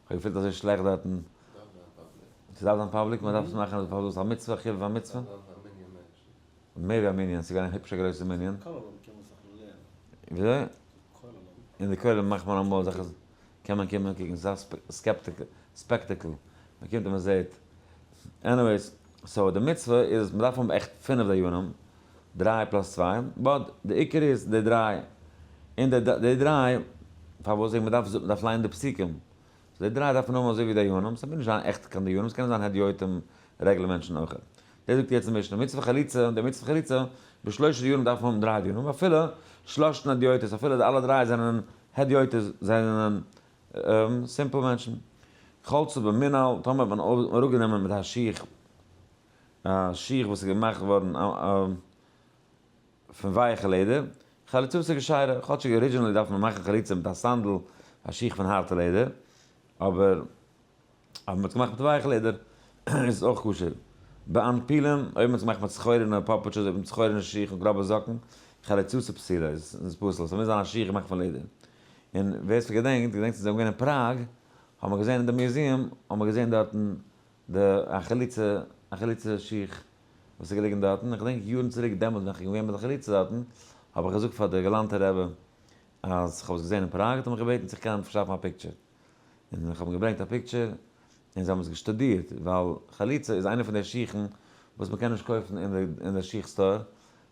כ'האב געפילט אזוי שלעכט דארטן. ס'דארף זיין פאבליק. ס'דארף זיין פאבליק? מ'דארף עס מאכן פארוואס? איז א מצוה? חובה פאר מצוה? ס'דארף זיין פאר מנין מענטשן. מער ווי א מנין, ס'איז געווען א היפשע גרויסע מנין. כוללים קען מען זיך לערנען. וויאזוי? כוללים. אין די כוללים מאכט מען אמאל אזעלכע. קען מען קומען קעגן אזא סקעפטיק ספעקטעקל, מען קומט און מען זעט, עניוועיס, סאו די מצוה איז מען דארף האבן עכט פינף דיינים, דריי פלאס צוויי, באט די עיקר איז די דריי, און די די דריי, פארוואס זאג מען דארף זאגן דארף ליינען די פסוקים, סאו די דריי דארף מען האבן אזוי ווי דיינים, ס'מוז נישט זיין עכט קיין דיינים, ס'קענען זיין הדיוטים רעגלער מענטשן אויך, דאס זאגט יעצט די משנה, מצוה חליצה, די מצוה חליצה, בשלושה דיינים דארף מען האבן דריי דיינים, אפילו שלושת הדיוטות, אפילו די אלע דריי זענען הדיוטות זענען סימפל מענטשן. כל צו במינהל, טאמער האט מען אראפגענומען מיט א שיך א שיך וואס איז געמאכט געווארן פון ווייעכע לעדער, חליצות איז געשיירע, כאטשיג ארידזשינעלי דארף מען מאכן חליצה מיט א סאנדל, א שיך פון הארטע לעדער, אבער. אז מען האט עס געמאכט מיט ווייעך לעדער איז עס אויך כשר. בען פילען, אויב מען האט עס געמאכט מיט סחורינע פאפוטשעס אדער מיט סחורינע שיך און גראבע זאקן, חליצות פסולה, איז עס פסול. ס'מוז זיין א שיך געמאכט פון לעדער. און ווער ס'געדענקט, געדענקט ווען זיי זענען געווען אין פראג, האבן מיר געזען אין די מוזיעם, האבן מיר געזען דארטן די א חליצה, א חליצה שיך וואס איז געליגן דארטן. איך געדענק יארן צוריק דעמאלט ווען איך בין געווען מיט די חליצה דארטן, האב איך געזאגט פאר די גאלאנטע רבי אז כ'האב עס געזען אין פראג, האט ער מיך געבעטן צו איך קען פארשאפן א פיקטשער. און איך האב אים געברענגט א פיקטשער, און זיי האבן עס געשטודירט, ווייל חליצה איז איינע פון די שיכן וואס מען קען נישט קויפן אין די שיך סטאר,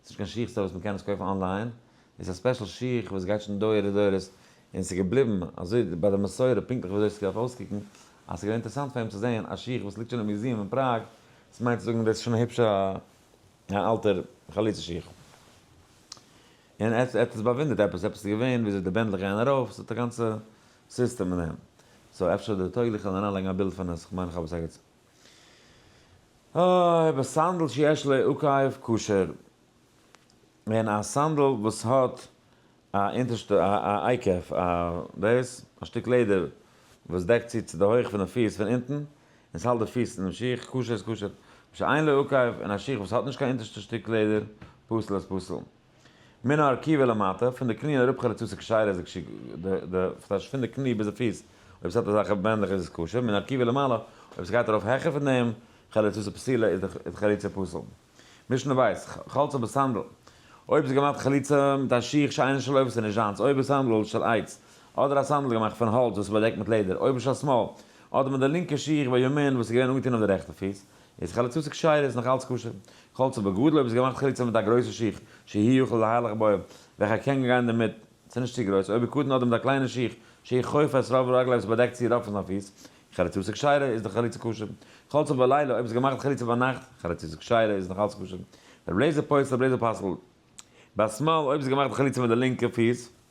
ס'נישט קיין שיך סטאר וואס מען קען עס קויפן אנליין, איז א ספעשל שיך וואס גייט שוין דורי דורות, און ס'איז געבליבן אזוי ביי די מסורה פונקטליך וויאזוי ס'דארף אויסקוקן, אז ס'איז געווען אינטערעסאנט פאר אים צו זען א שיך וואס ליגט שוין אין מיוזיעם אין פראג, דאס מיינט צו זאגן דאס איז שוין א היבש א אלטער חליצה שיך. און ער האט עס באוואונדערט עפעס, עפעס איז געווען וויאזוי די בענדלעך גייען ארויף, ס'האט א גאנצע. סיסטעם אין אים. סאו אפשר איז דער טויגליך זאל אריין לייגן א בילד פון עס, כ'מיין כ'האב עס אגעצ ה ביי סנדל שיש לה עוקב כשר, און א סנדל וואס האט א אונטערשטע א א עיקף א דאס, א שטיק לעדער וואס דעקט צו צו די הויך פון די פיס פון אונטן, און ס'האלט די פיס אינעם שיך, כשר איז כשר, שאין לה עוקב, און א שיך וואס האט נישט קיין אונטערשטע שטיק לעדער, פסול איז פסול. מן הרקיע ולמטה, פון די קני און אראפ חרצוץ ע כשיירא איז כשר, די ס'טייטש פון די קני ביז די פיס, אויב ס'האט אזעלכע בענדלעך איז עס כשר, מן הרקיע ולמעלה, אויב ס'גייט ארויף העכער פון דעם, חריצותא פסילה, איז די חריצה פסול. משנה בית, חלצה בסנדל, אויב איז געמאכט חליצה מיט א שיך שאינו של עוף איז נישט זיינס, אויב איז סנדל של עץ, אדער א סנדל געמאכט פון האלץ וואס איז באדעקט מיט לעדער, אויב איז של שמאל, אדער מיט די לינקע שיך בימין וואס איז געווען אנגעטון אויף די רעכטע פיס, איז חליצות כשרות נאך אלץ כשר? חלצה בגדול אויב איז געמאכט חליצה מיט א גרויסע שיך שהי' יוכל להלך בו וועלכער קען גיין דערמיט ס'איז נישט צו גרויס אויב איז קטן אדער מיט א קליינע שיך שהיא חופה את רוב רגליו ס'באדעקט צו רוב פון זיין פיס חליצות כשרה איז די חליצה כשר חלצה בלילה אויב איז געמאכט חליצה ביינאכט חליצות כשרה איז נאך אלץ כשר רבי אליעזר פוסל רבי אליעזר פסל ביד שמאל אויב איז געמאכט חליצה מיט די לינקע פיס.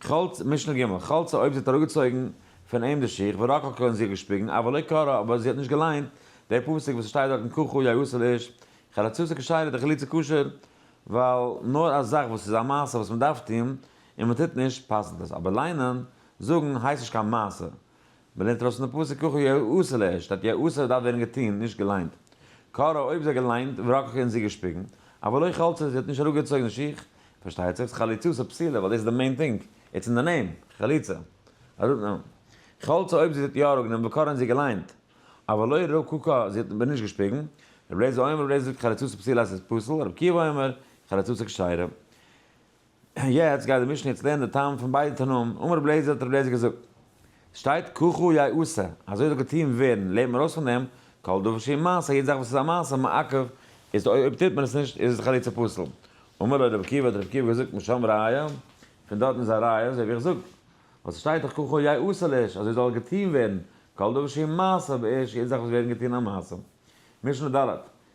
חלצה, משנה ג', חלצה אויב זי האט אראפגעצויגן פון אים די שיך ורקח כהן זיך געשפיגן אבער לא קרא אבער זי האט נישט געליינט דער פסוק וואס שטייט דארטן כ ח יעשה לאיש חלצתו כשרה די חליצה כשר ווייל נאר א זאך וואס איז א מעשה וואס מ'דארף טון און מ'טוט נישט פסל'ט עס אבער ליינען זאגן הייסט נישט קיין מעשה מ'לערנט ארויס פון די פסוק ככו יעשה לע, שטאט יעשה וואס דארף ווערן געטון, נישט געליינט. קרא אויב זיי געליינט, ורקח און זי געשפיגן. אבער לא חלצה זי האט נישט אראפגעצויגן שיך. פארשטייט זיך חליצות איז א פסילה ווייל דאס איז די מעין טינג, איטס אין די נעים, חליצה. אראפנעמען. חלצה אויב זי האט יא אראפגענומען וקרא און זי געליינט. אבער לא רקח זי האט אבער נישט געשפיגן. רבי לעזער אומר רבי לעזער זאגט חליצות איז פסילה אז ס'איז פסול, רבי עקיבא אומר חליצות איז כשרה. יעצט גייט די משנה יעצט לערנען די טעם פון ביידע תנאים, אמר רבי לעזער האט רבי לעזער געזאגט, ס'שטייט ככו י עשה, אזוי זאל געטוהן ווערן, לערנט מען ארויס פון דעם, כל דבר שהיא מעשה, יעדע זאך וואס איז א מעשה, מעכב, איז אויב טוט מען עס נישט איז עס לכאורה צו פסול, אמר לו רבי עקיבא האט רבי עקיבא געזאגט משם ראיה, פון דארטן איז א ראיה אזוי ווי איך זאג, ווייל ס'שטייט דאך ככו י עשה לאיש, אזוי זאל געטוהן ווערן, כל דבר שהיא מעשה, באיש, יעדע זאך וואס ווערט געטוהן א מעשה. משנה ד',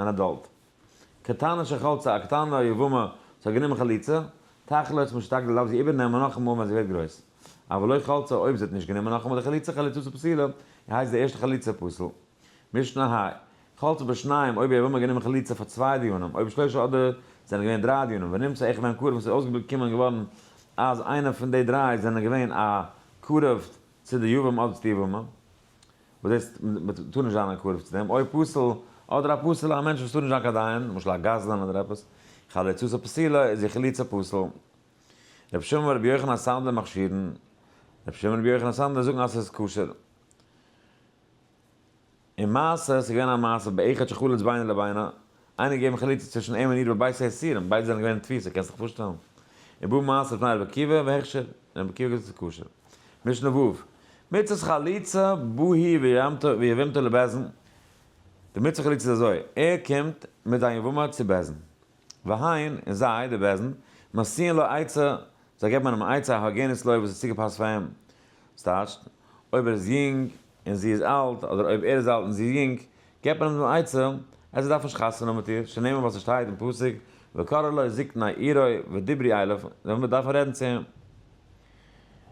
אן אדאלט. קטנה שחלצה א קטנה א יבמה זאל גענומען חליצה, תחלה איז משתדל דארף זי איבערנעמען נאכאמאל ווען זי ווערט גרויס. אבל לא חלצה אויב זי האט נישט גענומען נאכאמאל די חליצה חליצתו פסילה, און הייסט די ערשטע חליצה פסול. משנה ה. חלצה בשניים אויב יבמה גענומען חליצה פאר צוויי דיונים אויב שלושה אדער זענען געווען דריי דיונים ונמצא איך ווען קרוב עס איז אויסגעבליבט קומען געווארן אז איינע פון די דריי זענען געווען א קרוב צו די יבם אדער צו די יבמה. וואס הייסט מען טאר נישט זיין א קרוב צו דעם? אויב פסול, אדער א פסול א מענטש וואס טאר נישט זיין קיין דיין, למשל א גזלן אדער עפעס, חליצתו פסילה איז די חליצה פסול. רבי שמעון ורבי יוחנן הסנדלר מכשירין, רבי שמעון ורבי יוחנן הסנדלר זאגן אז עס איז כשר. און מעשה, עס איז געווען א מעשה באחד שחלץ בינה לבינה, איינער געגעבן חליצה צווישן אים און איר בבית האסירים, ביידע זענען געווען אין תפיסה, קענסט זיך פארשטעלן? ובא מעשה פני רבי עקיבא, והכשר, און רבי עקיבא האט געזאגט ס'איז כשר. משנה ו', מצות חליצה, בא היא ויבמתו לבעזן, די מצוה חליצה איז אזוי, ער קומט מיט זיין יבמה צו בעזן, והיין, און זיי, די בעזן, מסיעין לו עצה זיי געבן איינעם א עצה א הוגנת לוי' וואס איז צוגעפאסט פאר אים. וואס טייטשט? אויב ער איז יונג און זי איז אלט, אדער אויב ער איז אלט און זי איז יונג, געבט מען אים דעם עצה אז ער דארף נישט חתונה האבן מיט איר, שנאמר ווייל ס'שטייט אין פסוק וקרא לו זקני עירו ודברי אליו, זיי דארפן רעדן צו אים.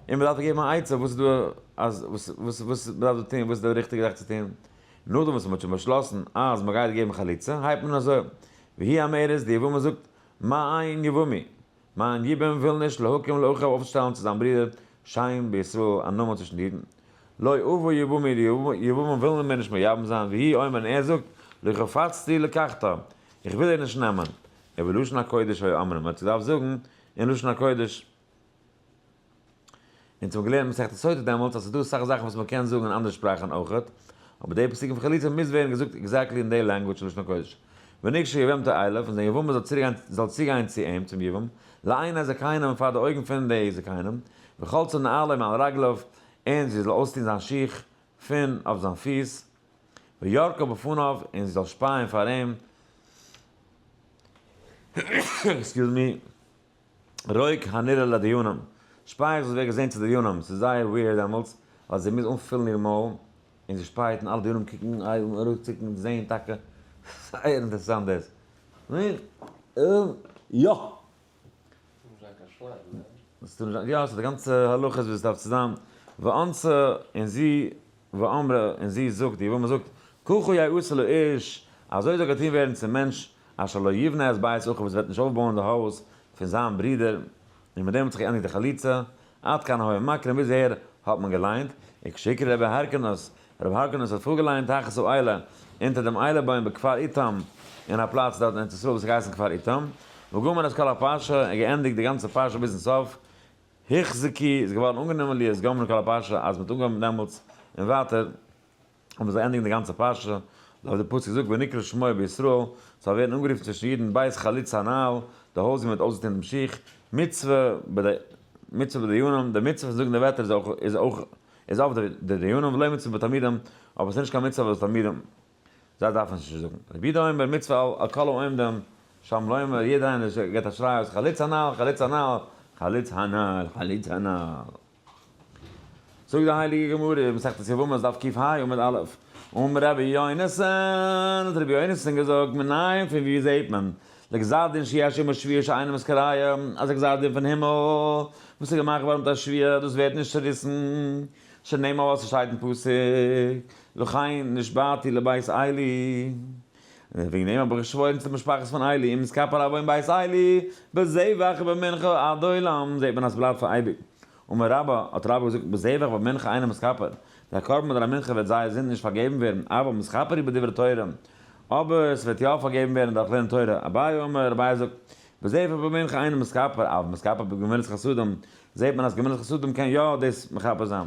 און מ'דארף געבן א עצה וואס איז דא אז וואס וואס וואס מ'דארף דא טון, וואס איז די ריכטיגע זאך צו טון. נאכדעם וואס מ'האט שוין באשלאסן אז מ'גייט געבן חליצה, הייבט מען אזוי, והיא אומרת, די יבמה זאגט, מה עיין יבמי? מיין ייבום וויל נישט להקים לאחיו אויפצושטעלן צו זיין ברודער שיין בישראל א נאמען צווישן די אידן. לא אבוא יבומי די יבומים ווילן מיר נישט מייבם זיין ויהי אומר און ער זאגט לו חפצתי לקחתו איך וויל דיר נישט נעמען. ובלשון הקודש היו אומרים מען האט געדארפט זאגן אין לשון הקודש. אונז האבן געלערנט מסכת סוטה דעמאלטס אז ס'איז דא אסאך זאכן וואס מ'קען זאגן אין אנדערע שפראכן אויכעט, אבער די פסוק פון חליצה מוז ווערן געזאגט עקזעקטלי אין די לענגוויטש פון לשון הקודש. ונקשר יבמתו אליו, און זיין יבמה זאל צוגיין זאל צוגיין צו אים, צום יבום, לעיני זקניו און פאר די אויגן פון די זקנים, וחלצו נעליו מעל רגליו, און זי זאל אויסטון זיין שיך פון אויף זיין פיס, וירקו בפניו, און זי זאל שפייען פאר אים, עקסקיוז מי, רואיג הנראה לדיונם, שפייעכץ וואס ווערט געזען צו דיונם, ס'איז זייער וויערד דעמאלטס, ווייל זי מוז אנפילן איר מויל, און זי שפייעט און אלע דיונים קוקן אויבן ארויף צוקן זעהן טאקע, זייער אינטערעסאנט דאס. יא! יא, ס'איז די גאנצע הלכות ווי ס'דארף צו זיין, וואנצע און זי. ואמרה, און זי זאגט, די וואס מען זאגט, ככה יעשה לאיש, אזוי זאל געטון ווערן צום מענטש, אשר לא יבנה את בית אחיו, וואס וועט נישט אויפבויען די הויז פון זיין ברודער, און מיט דעם האט זיך געענדיגט די חליצה, עד כאן היה מקרא, ביז אהער האט מען געליינט, און כשיקרא רבי הורקנוס, רבי הורקנוס האט פארגעליינט תחת האילה, אונטער דעם איילה בוים בכפר איתם, אין א פלאץ דארט אין ארץ ישראל וואס האט געהייסן כפר איתם, וגמר את כל הפרשה, און געענדיגט די גאנצע פרשה ביזן סוף, היכ ז כי איז געווארן אנגענומען ליעס גמרא כל הפרשה אז מ'האט אנגעהויבן דעמאלטס און ווייטער האבן זיי ענדיגן די גאנצע פרשה לויט די פסוק זאגט ונקרא שמו בישראל ס'זאל ווערן אנגערופן צווישן אידן בית חלוץ הנעל די הויז ווי מ'האט אויסגעטון דעם שיך מצוה ביי די מצוה ביי די דיינים די מצוה פון זאגן די ווערטער איז אויך איז אויף די דיינים ולא מצוה ביי תלמידים אבער ס'איז נישט קיין מצוה ביי די תלמידים. זיי דארפן עס נישט זאגן. רבי יהודה אומר מצווה על כל העומדים שם לומר, יעדער איינער וואס גיבט א שריי אויס חלוץ הנל, חלוץ הנל, חלוץ הנל, חלוץ הנל. זאגט די הייליגע גמרא אין מסכת יבמות דף קיף ה עמוד א', אמר רבי יונתן, האט רבי יונתן געזאגט, מנין פון וואו זעט מען, לגזר דין שיש עמו שביעי שאינם מזכריה, אז א גזר דין פון הימל וואס איז געמאכט געווארן מיט א שביעי דאס ווערט נישט צעריסן, שנאמר וואס עס שטייט אין פסוק. וכן נשבעתי לבית איילי, וועגן דעם האב איך געשוואוירן צו די משפחת פון איילי, אם יתקפל אבא אין בית איילי, בזבח ובמנחה עד עולם, זעט מען אז ס'בלייבט פאר אייביג. אמר רבא, האט רבא געזאגט, בזבח ובמנחה אינו מתכפר, דער קרבן אדער א מנחה וועט זייער זינד נישט פארגעבן ווערן, אבא מתכפר היא בדברי תורה, אבער ס'וועט יא פארגעבן ווערן דורך לערנען תורה, אביי אמר, אביי זאגט, בזבח ובמנחה אינו מתכפר, אבא מתכפר בגמילות חסדים, זעט מען אז גמילות חסדים קען יא דאס מכפר זיין.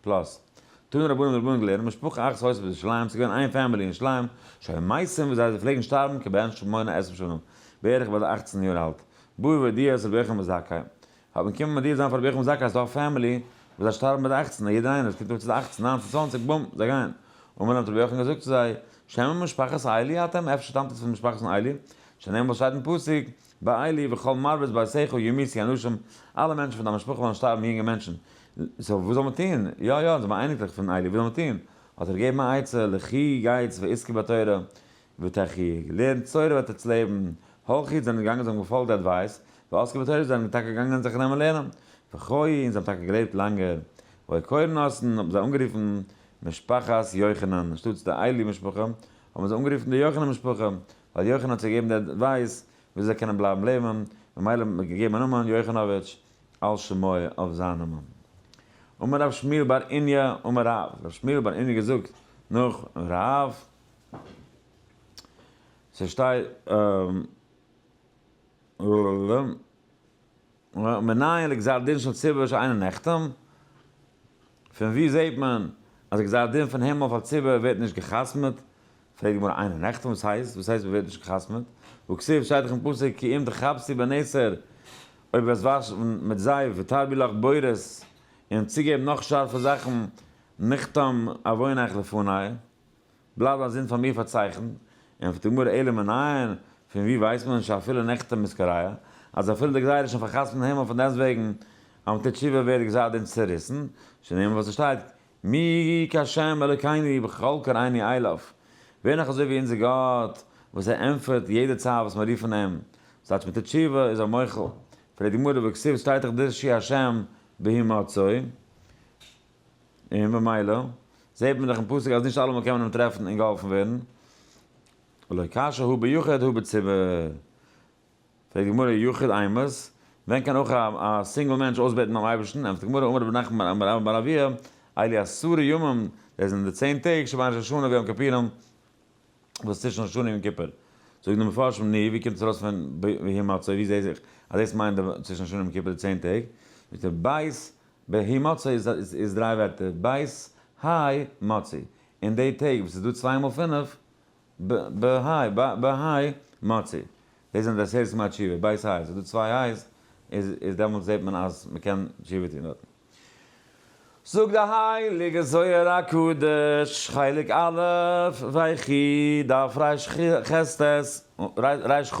פלאס. טוהן רבנים די רבנים געלערנט משפחה אחת הוספת בירושלים ס'איז געווען איין פעמילי אין ירושלים שהיו מייסים ווי זיי זיי פלעגן שטארבן כבן שמונה עשרה שנים בערך ביי די אכצן יאר אלט בא ודיעת רבי יוחנן בן זכאי האט מען קומען מודיע זיין פאר רבי יוחנן בן זכאי אז ס'דא א פעמילי וואס זיי שטארבן ביי די אכצן א יעדער איינער וואס קומט אויף צו די אכצן ניינצן צוואנציג בום זיי גייען און מען האט רבי יוחנן געזאגט צו זיי שמן משפחת איילי אתם אפשר שטאמט עטס פון משפחת'ן איילי שנאמר וואס שטייט אין פסוק בעלי וכל מרבית בעשיך ימיתי אנשים, אלע מענטשן פון דיין משפחה וועלן שטארבן יונגע מענטשן, סאו וואס זאל מען טון? יא יא, אונז זעמיר אייניקלעך פון איילי, וואס זאל מען טון? האט ער געגעבן א עצה, לכי גייטס ועסקי בתורה ותחי', לערנט תורה וועט עטס לעבן, הכי זענען געגאנגען זיי האבן געפאלגט די אדווייס, ועסקי בתורה זענען טאקע געגאנגען זיך נעמען לערנען, וכו' און זיי האבן טאקע געלעבט לאנגער, ועל כורן האסן האבן זיי אנגערופן משפחת יוחנן, אנשטאטס די איילי משפחה האבן זיי אנגערופן די יוחנן משפחה, ווייל יוחנן האט זיי געגעבן די עדווייס ווי אזוי זיי קענען בלייבן לעבן, ממילא האט מען געגעבן א נאמען יוחנאוויטש על שמו אויף זיין נאמען. אמר ר' שמואל בר איניא אמר רב, ר' שמואל בר איניא געזאגט נאך רב, ס'שטיי. מנין לגזר דין של ציבור שאינו נחתם? פון וואו זעהט מען אז גזר דין פון הימל אויף א ציבור ווערט נישט געחתמ'עט? פרעגט די גמרא אינו נחתם וואס הייסט וואס הייסט מ'ווערט נישט געחתמ'עט? וכסוף שטייט דאך אין פסוק כי אם תחפשי בנעצר אויב וועסט וואשן מיט זייף ותרבי לך בורות און צוגעבן נאך שארפע זאכן נחתם עווינך לפני. בלייב א זינד פאר מיר פארצייכנט, און ענטפערט די גמרא אלא מנין, פון וואו ווייסט מען שאפילו נחתם מסקריא, אז אפילו די גזירה איז שוין פארחתמ'ט אין הימל פונדעסטוועגן אז מ'טוט תשובה ווערט גזר דין צעריסן, שנאמר וואס עס שטייט מי כה' אלוקינו בכל קראיני אילוף, ווער נאך אזוי ווי אונזער גאט וואס ער ענטפערט יעדע צייט וואס מיר רופן אים, ס'טייטש מ'טוט תשובה איז ער מוחל, פרעגט די גמרא וכסוף שטייט דאך דרשי ה' בהימצאו. און ממילא זעהט מען דאך אין פסוק אז נישט אלעמאל קען מען אים טרעפן און געהאלפן ווערן, ולא קשה הוא ביחיד הוא בציבור, פרעגט די גמרא יחיד אימת, ווען קען אויך א סינגל מענטש אויסבעטן ביים אייבערשטן, ענפערט די גמרא אמר רבי נחמן בר אבא אמר רבי אביה אלי עשרה ימים, דאס זענען די צען טעג שבין ראש השנה ויום כפירים וואס איז צווישן ראש השנה יום כיפור, זאגן די מפרשים ני ווי קומט עס ארויס פון ויהי מצוי ווי זעהט זיך אז דאס מיינט צווישן ראש השנה יום כיפור די צען טעג, זאגט ער בית בהאי מצא איז דריי ווערטער, בית האי מצי, אין די טעג וואס איז דא צוויי מאל פינף, בהאי מצי, דאס זענען די עשרת ימי התשובה, בית האי, ס'איז דא צוויי האי'ס, איז דעמאלטס זעט מען אז מ'קען תשובה טון דארטן. זאגט די הייליגע זוהר הקדוש, חלק א', ויחי, דף רש ח, רש ח,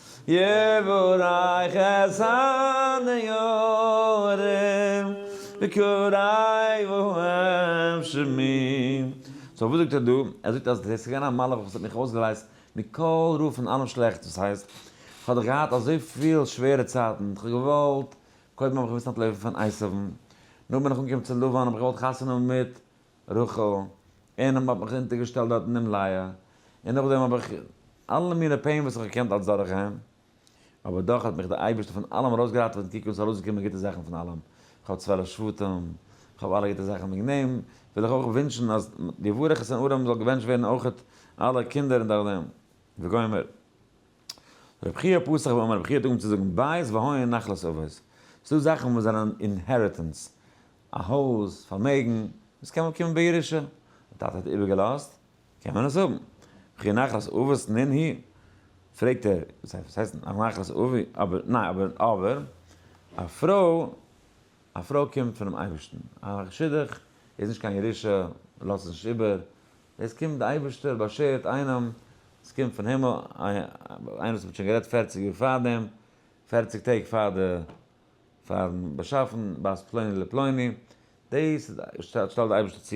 יבורך את הנערים בקוראי ואוהב שמים. סאו וואס זאגט ער דא? ער זאגט אז דאס איז געווען א מלאך וואס האט מיך אויסגעלייזט מכל רע פון אלעם שלעכטס, דאס הייסט כ'האב דאך געהאט אזויפיל שווערע צייטן, כ'האב געוואלט, קודם האב איך געמוזט אנטלויפן פון עשיו'ן, נאכדעם בין איך אנגעקומען צו לבן האב איך געוואלט חתונה מיט רחל, און האבן מיך אונטערגעשטעלט דארט אין דעם לייער, און נאכדעם האב איך אלע מיני פעין וואס איך האב געקענט אלץ דורכגיין, אבער דאך האט מיך דער אייבערשטער פון אלעם ארויסגעראטעוועט און קוק וואס איז ארויסגעקומען גוטע זאכן פון אלעם, איך האב צוועלף שבטים, איך האב אלע גוטע זאכן, וועגן דעם וויל איך אויך ווינטשן אז די וואריכעס אין ארם זאל געבענטשט ווערן אויכעט אלע קינדער און דורכדעם. וגומר. רבי חייא פסח ואמר רבי חייא דאגהן צו זאגן בית והאהן נחלת אבות, ס'דא זאכן וואס זענען אינהעריטענס, א הויז, פארמעגן, דאס קען מאל קומען בירושה, די טאטע האט איבערגעלאזט, קען מען עס האבן. רבי חייא נחלת אבות נין היא? פרעגט ער, וואס הייסט נחלת אבי, אבער, ניין, אבער, אבער, א פרוי, א פרוי קומט פונעם אייבערשטן, א שידוך איז נישט קיין ירושה, לאזט עס נישט איבער, דאס קומט די אייבערשטער באשערט איינעם, עס קומט פון הימל, איינער וואס האט שוין גערעדט פערציג יאר פאר דעם, פערציג טעג פאר די פארן באשאפן בית פלוני לפלוני, דאס שטעלט די אייבערשטער צו,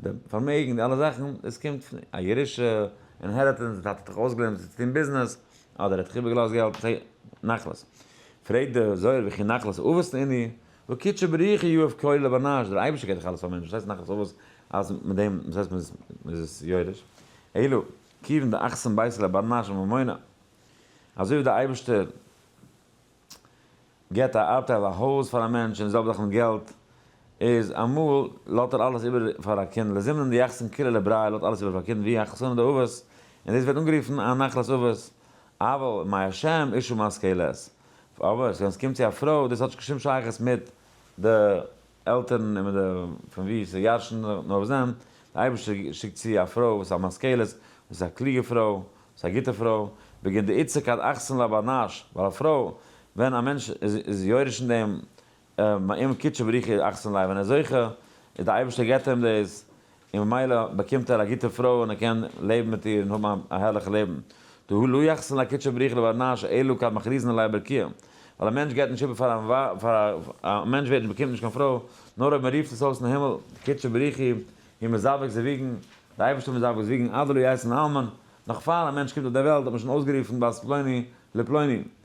די פארמעגן די אלע זאכן, דאס קומט פון א ירושה, אינהעריטענס, די טאטע האט דיך אויסגעלערנט צו טון ביזנעס, אדער ער האט דיך איבערגעלאזט געלט, נחלת, פרעגט די זוהר וכי נחלת אבות עני', וקידשא בריחא יאהב קולי לבנש, דער אייבערשטער געט דאך אלעס פאר מענטשן, וואס הייסט נאך עשו וואס אז מיט דעם וואס הייסט מ'איז עס יורש, אלא כיוון דאחסן בית לבנש וממונה, אזוי ווי דער אייבערשטער געט א ארטייל א הויז פאר א מענטש און די זעלבע זאך מיט געלט, איז אמאל לאט ער אלעס איבער פאר א קינד, לזימנן דיחסן כולי לבריה לאט אלעס איבער פאר א קינד, והיא החסנא דאבות, און דאס ווערט אנגערופן א נחלת אבות, אבל מאי השם אישה משכילת. אבער ווען ס'קומט צו א פרוי, דאס האט נישט קיין שום שייכות מיט די עלטערן און מיט די פון וואו זי ירש'נט נאר וואס דען, די אייבערשטער שיקט צו א פרוי וואס איז א משכילת, וואס איז א קלוגע פרוי, וואס איז א גוטע פרוי, בגין דעיצה כד אחסן לה בנש, ווייל א פרוי, ווען א מענטש איז יורש אין דעם, מעם קודשא בריחא אכסנ ל, ווען ער זוכה איז די אייבערשטער געט אים דאס, און ממילא באקומט ער א גוטע פרוי און ער קען לעבן מיט איר און האבן א הערליכע לעבן, דהוא לא יחסן לה קודשא בריחא לברנה שאלו כד מכריזין עליה ברקיע, ווייל א מענטש געט נישט איבער פאר א ווייב, א מענטש ווערט נישט באקומט נישט קיין פרוי נאר אויב מען רופט עס אויס אין הימל, קודשא בריחי הוא מזווג זי וויגן, די אייבערשטער מזווג זי וויגן עד דלא יעשין אלמן, נאך פאר א מענטש קומט אויף דער וועלט האט מען שוין אויסגערופן בת פלוני לפלוני,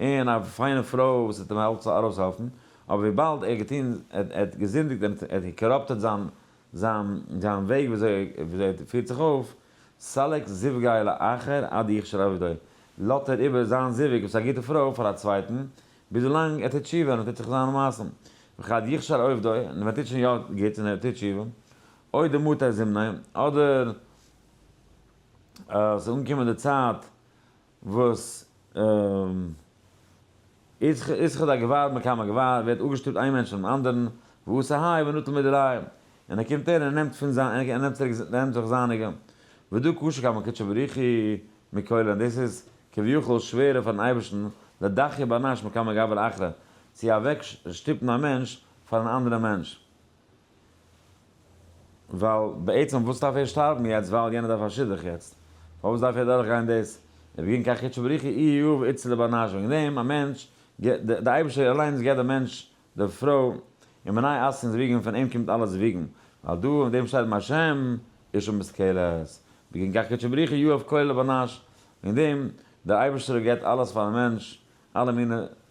און א פיינע פרוי וואס וועט אים אלץ ארויסהעלפן, אבער וויבאלד ער האט געטון, ער האט געזינדיגט און ער האט געקאראפטעט זיין זיין זיין וועג וויאזוי ער פירט זיך אויף, סלק זיווגיו לאחר עד יכשר עבדו, לאזט ער איבער זיין זיווג וואס איז א גוטע פרוי פאר א צווייטן, ביז ווילאנג ער טוט תשובה און ער טוט זיך זיינע מעשים, וכד יכשר עובדו, און ווען ער טוט שוין יא גוט און ער טוט תשובה, אוי די מתי זימני, אדער עס איז אנגעקומען די צייט וואס איז איזכר דאר געוואר מכמה געוואר, ווערט אפגעשטופט איין מענטש פונעם אנדערן, ועשה האי ונטל מידי רעי, און ער קומט אהער און ער נעמט פון זיין און ער נעמט צוריק און ער נעמט אויך זייניגע, ודו ק שכמה קדשא בריחי מקולי, און דאס איז כביכול שווערער פארן אייבערשטן לדחי' באנאש מכמה גבר אחרא, צו אוועק שטופן א מענטש פאר אן אנדערע מענטש. ווייל בעצם וואס דארף ער שטארבן יעצט ווייל יענער דארף א שידוך יעצט? פארוואס דארף ער דורך גיין דאס? ער וועט גיין קיין חדשו בריך אי יאוו איצט צו די בארנאזשונג אין דעם א מענטש גיט די די אייבישטער אליינס געט די מענטש די פרוי און מנאי אסקנס וועגן פון אים קומט אלעס וועגן ווייל דא אין דעם שטייט דעם השם איש ומושכלת וועט גיין קיין חדשו בריך אי יאוו כולל די בארנאזש אין דעם די אייבישטער געט אלעס פארן מענטש אלע מינע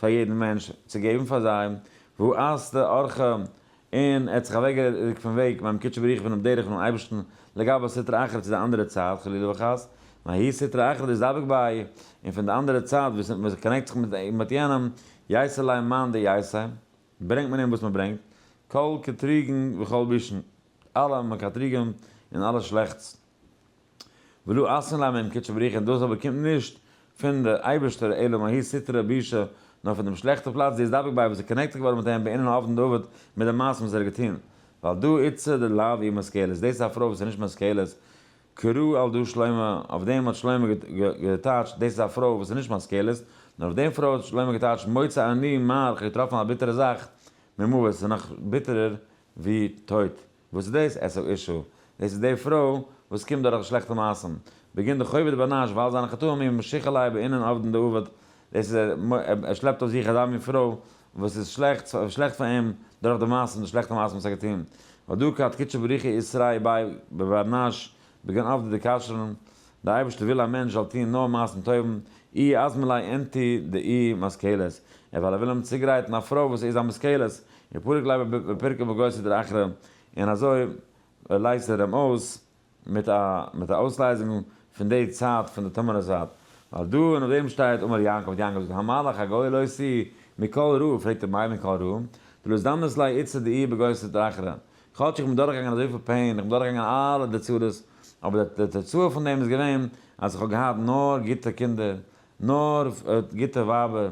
פאר יעדן מענטש צו געבן פאר זיי, והארת אורך, און ער האט זיך אוועקגעריקט פון וועג, ביים קודשא בריך פונעם דרך פונעם אייבערשטן, לגבי סטרא אחרא צו די אנדערע צד, חלילה וחס, מהאי סטרא אחרא דאס דבק ביי, און פון די אנדערע צד וואס מען קאנעקט זיך מיט יענעם, יעשה להם מאן דעישה, ברענגט מען אים וואס מען ברענגט, כל קטריגן וכל בישן, אלע מקטריגים און אלע שלעכטס. ולו אסור להם מעם קדשו בריחין, דאס אבער קומט נישט פון די אייבערשטער אלא מהאי סיטרא בישא, נאר פון דעם שלעכטע פלאץ, דאס דבק ביי וואס איז קאנעקטעד געווארן מיט אים בענין האבן דוד מיט די מעשים וואס ער האט געטון, ועל דא איצא די לאו אי משכילות, דאס איז א פרוי וואס איז נישט משכילות, קרא על דא שלמה, אויף דעם האט שלמה געטייטשט, דאס איז א פרוי וואס איז נישט משכילות, נאר אויף דעם פרוי האט שלמה געטייטשט, מוצא אני מר, כ'האב געטראפן א ביטערע זאך, ממוות, ס'איז נאך ביטערער ווי טויט. וואס איז דאס עשו אישה? דאס איז די פרוי וואס קומט דורך די שלעכטע מעשים, בגין די חובת בנש ווייל זיינע חטאים איהם משיך עליה בענין עבדין דעבד, דאס איז ער ער שלעפט אויף זיך אזא מין פרוי וואס איז שלעכט שלעכט פאר איהם דורך די מעשים די שלעכטע מעשים וואס ער האט געטון, ודו ק, עד קדשו בריך איסרי באי בבנש בגין עבדא דכשרון, דער אייבערשטער וויל א מענטש זאל טון נאר מעשים טובים, אי אז מלאי ענתי דאי משכילות, און ווייל ער וויל אים צוגרייטן א פרוי וואס איז א משכילות, און פרק לב בפרקי בגוש איז דער אחרון, און אזוי לייזט ער אים אויס מיט א מיט א אויסלייזונג פון די צד פון די טמא'נע זייט, ווייל דא און אויף דעם שטייט אמר יעקב, האט יעקב געזאגט המלך הגוי לא עשי מכל רעה, פרעגט ער מילא מכל רעה, דלא הזדמנות ליה איצא דאי בגוש איז דער אחרון, כאטש איך בין דורכגעגאנגען אזויפיל פעין, איך בין דורכגעגאנגען אלע די צרות, אבער די תוצאה פון דעם איז געווען אז איך האב געהאט נאר גוטע קינדער, נאר גוטע ווייבער,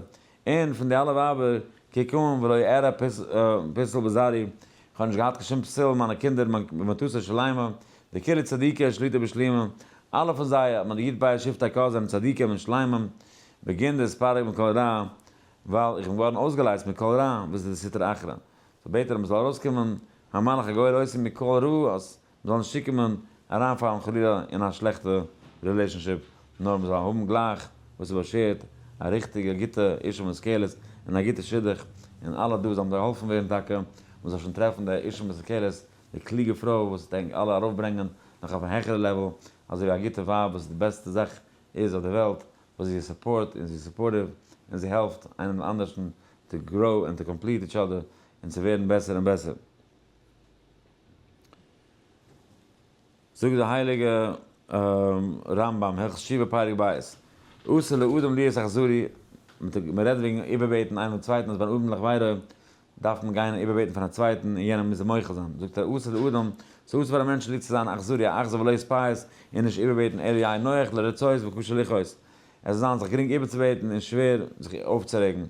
און פון די אלע ווייבער, כקם ולא אראה פסול בזרעי, איך האב נישט געהאט קיין שום פסול אין מיינע קינדער, מיין מטותא שלימא, די כלה צדיקה שליטא בשלימא, אלע פון זיי האט מען די י' באייר שבט הק' זענען צדיקים און שלימים, בגין דאס פאר איך מכל רע, ווייל איך בין געווארן אויסגעלייזט מכל רע, וואס איז די סטרא אחרא. סאו בעט ער אז מ'זאל ארויסקומען המלאך הגוי לויסי מכל רע אז מ'זאל נישט צוקומען אריינפאלן חלילה אין א שלעכטע רילעישאנשיפ נאר מ'זאל האבן גלייך וואס איז באשערט א ריכטיגע גוטע אישה מושכלת און א גוטע שידוך און אלע דא זאלן געהאלפן ווערן טאקע מ'זאל שוין טרעפן די אישה מושכלת די קלוגע פרוי וואס וועט ענק אלע ארויפברענגען נאך אויף א העכערע לעוועל אזוי ווי א גוטע ווייב וואס איז די בעסטע זאך איז אויף די וועלט וואס זי סופארט און זי איז סופארטיוו און זי העלפט איינעם די אנדערשטן טו גראו און טו קאמפליט איטש אדער און צו ווערן בעסער און בעסער. זאגט דער הייליגע רמב ם הלכות תשובה פרק ב' אסור לאדם להיות אכזרי, מען רעדט וועגן איבערבעטן איינעם צווייטן אז ביי אן אדם לכבודו דארף מען גיין און איבערבעטן פאר א צווייטן און יענער מוז אים מוחל זיין, זאגט ער עשה לאדם, ס'איז אסור פאר א מענטש צוליב צו זיין אכזרי א אכזר ולא יספייס און נישט איבערבעטן אלא יהיה נוח לרצות וקשה לכעוס, עס זאל זיין זיך גרינג איבערצובעטן און שווער זיך אויפצורעגן,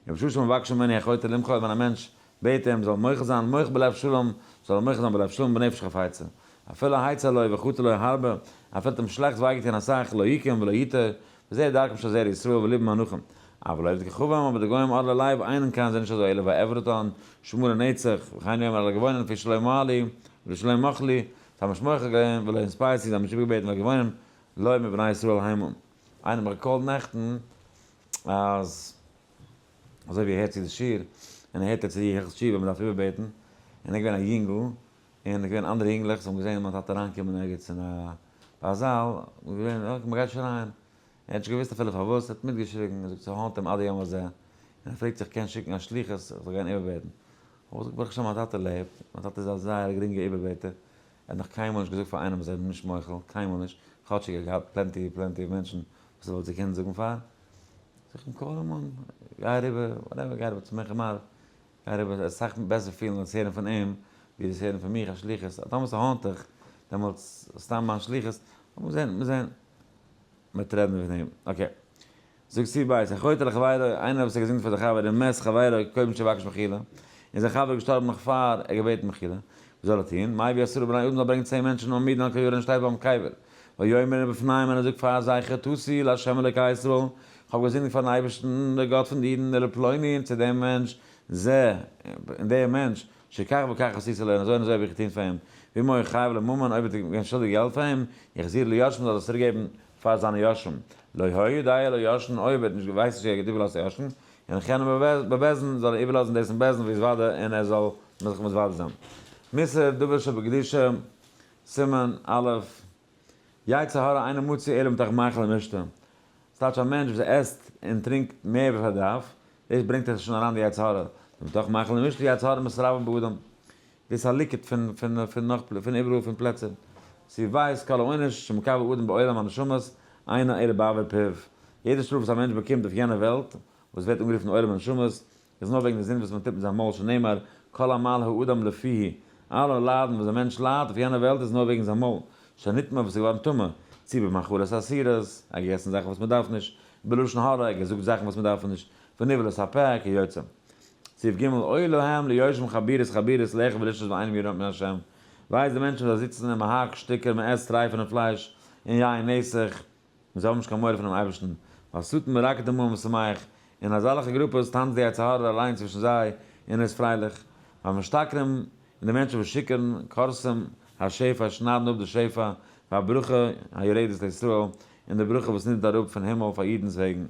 ובשעה שמבקשים ממני החוטא למחול און ווען א מענטש בעט אים זאל ער מוחל זיין, מח בלב שלום, זאל ער מוחל זיין בלב שלום ובנפש חפיצה, אפילו העצה לו וחוטא לו הרבה, אפילו האט אים שלעכטס וויי געטון אסאך, לא יקום ולא יתר, וזה דרכם של זרע ישראל ולבם אנכים אבל אוהב ככבם אבער די גוים אדלער לייב איין און קיין זענען נישט אזוי עלוב ועברתן שמור לנצח וכן יאמר אדלער געוואונען פון שלא אמר לי ולא שלא מחל לי ס'האבן נישט מוחל געווען ולא אינספייערט צו זיי האבן נישט איבערגעבעטן נאר געוואונען לויב מיט בני ישראל היימא איינער האט מיך געקאלט נעכטן אז אזוי ווי ער הערט צו די שיעור און ער הערט ער צו די הלכות תשובה מען דארף איבערבעטן און ער געווען א יונגל און עס געווען אנדערע יונגלעך וואס האבן געזען מיין טאטע אריינקומען ערגעץ אין א א זאל, און געווען אקעי מען גייט שוין אריין, ער האט נישט געוואוסט אפילו פארוואס, ער האט מיטגעשריגן, ער זאגט ס'האנט אים עד היום הזה, און ער פרעגט זיך קען שיקן א שליחות איך זאל גיין איבערבעטן, כ'האב געזאגט ברוך השם מיין טאטע לעבט, מיין טאטע איז א זייער א גרינגע איבערבעטער, ער האט נאך קיינמאל נישט געזאגט פאר איינעם אז ער איז נישט מוחל, קיינמאל נישט, כאטשיג ער האט געהאט פלענטי פלענטי מענטשן וואס ער וואלט זיי קענען זאגן פאר, זאג איך אים קאל אים אן, גיי אריבער, וואטעווער, גיי אריבער צו מנחם מאיר, ער וועט זיך אסאך בעסער פילן דאס הערן פון אים ווי דאס הערן פון מיך א שליחות, אז טאמער ס'האנט דיך דעמאלטס סתם מיין שליחות, אבער מ'זען מיר זען מ'וועט רעדן פון אים אקעי. זאגט סי' בית הכותל לחבירו, איינער וואס האט געזינגט פאר די חבר דעם מת חברו קודם שיבקש מחילה, און זיין חבר איז געשטארבן נאך פאר ער האט געבעטן מחילה, וואס זאל ער טון? מאי ביי עשרה בני אדם זאל ברענגען צען מענטשן אן מידן אן כיור און שטייט ביים קבר, ויאמר בפניהם און ער זאגט פאר זיי חטאתי לה' אלקי ישראל, איך האב געזינדיגט פארן אייבערשטן דער גאט פון די אידן, אלא פלוני און צו דעם מענטש זה, און דער מענטש, שכך וכך עשיתי לו און אזוי און אזוי האב איך געטון פאר אים, ואם הוא חייב לממון אויב איז ער געווען שולדיג געלט פאר אים, יחזיר ליורשיו מ'זאל עס צוריק געבן פאר זיינע יורשים, לא היה יודע לו יורשין אויב ער האט נישט געווייסט נישט ער האט איבערלאזט יורשים, און חנם בבעזן זאל ער איבערלאזן דאס אין בעזן ויזוודה און ער זאל זיך מתוודה זיין. מס' דבש שבקדושה סימן א', יצר הרע אינו מוציא אלא מתוך מאכל ומשתה, ס'טייטש א מענטש וואס עסט און טרינקט מער ווי פארדארף, דאס ברענגט אויך שוין אריין די יצר הרע, ומתוך מאכל ומשתה יצר הרע מסתרבה באדם, דאס איז א ליקוט פון נאך פון איבעראל פון פלעצער, צו ווייסט כל העונש שמקבל אדם בעולם הנשמות אינו אלא בעבר פיו, יעדע שטראף וואס א מענטש באקומט אויף יענע וועלט, וואס ווערט אנגערופן עולם הנשמות, איז נאר וועגן די זינד וואס מען טוט מיט זיין מויל שנאמר כל עמל האדם לפיו, אלע ליידן וואס דער מענטש ליידט אויף יענע וועלט איז נאר וועגן זיין מויל שנטמע וואס איז געווארן טמא, צי במאכלות אסירות, ער האט געגעסן זאכן וואס מען דארף נישט, בלשון הרע, ער האט געזאגט זאכן וואס מען דארף נישט, ונבלת הפה, כיוצא. סעיף ג' אוי להם ליושבים חבירות חבירות לחם ולשתות ואינם יראים מפני השם, וויי איז די מענטשן וואס זיי זיצן אין מהרג שטיקער מען עסט טרייפענע פלייש און יין נסך, און זיי האבן נישט קיין מורא פונעם אייבערשטן, ווייל שטן מרקד דעם עולם ושמח, און אזאלכע גרופעס טאנצט די יצר הרע אליין צווישן זיי און איז פרייליך, והמשתכרים, און די מענטשן וואס שיכור'ן, קורסים, השפע, שניידן אפ די שפע, והברכה היורדת לישראל, און די ברכה וואס נידערט אראפ פון הימל פאר אידנ'ס וועגן.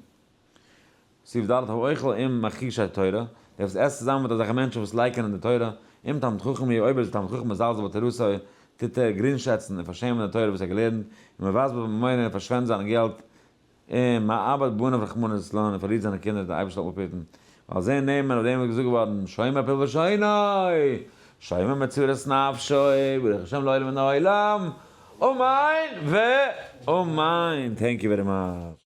סעיף ד' האוכל עם מכחישי תורה, דער וואס עסט צוזאמען מיט אזעלכע מענטשן וואס לייקענען די תורה, עם תלמיד חכם יהיה אויב איז דער תלמיד חכם מזלזל בתורתו, טוט ער גרינגשעצן און פארשעמען די תורה וואס ער האט געלערנט, און מבזבז בממונו און פארשווענדט זיין געלט, און מאבד בניו רחמנא ליצלן און פארלירט זיינע קינדער די אייבערשטער זאל אפהיטן, ועל זה נאמר אויף דעם איז געזאגט געווארן שומר פיל בלשונו, שומר מצורת נפשו, ברוך השם לעולם מן העולם, אמן ואמן, טענק יו ווערי מאטש.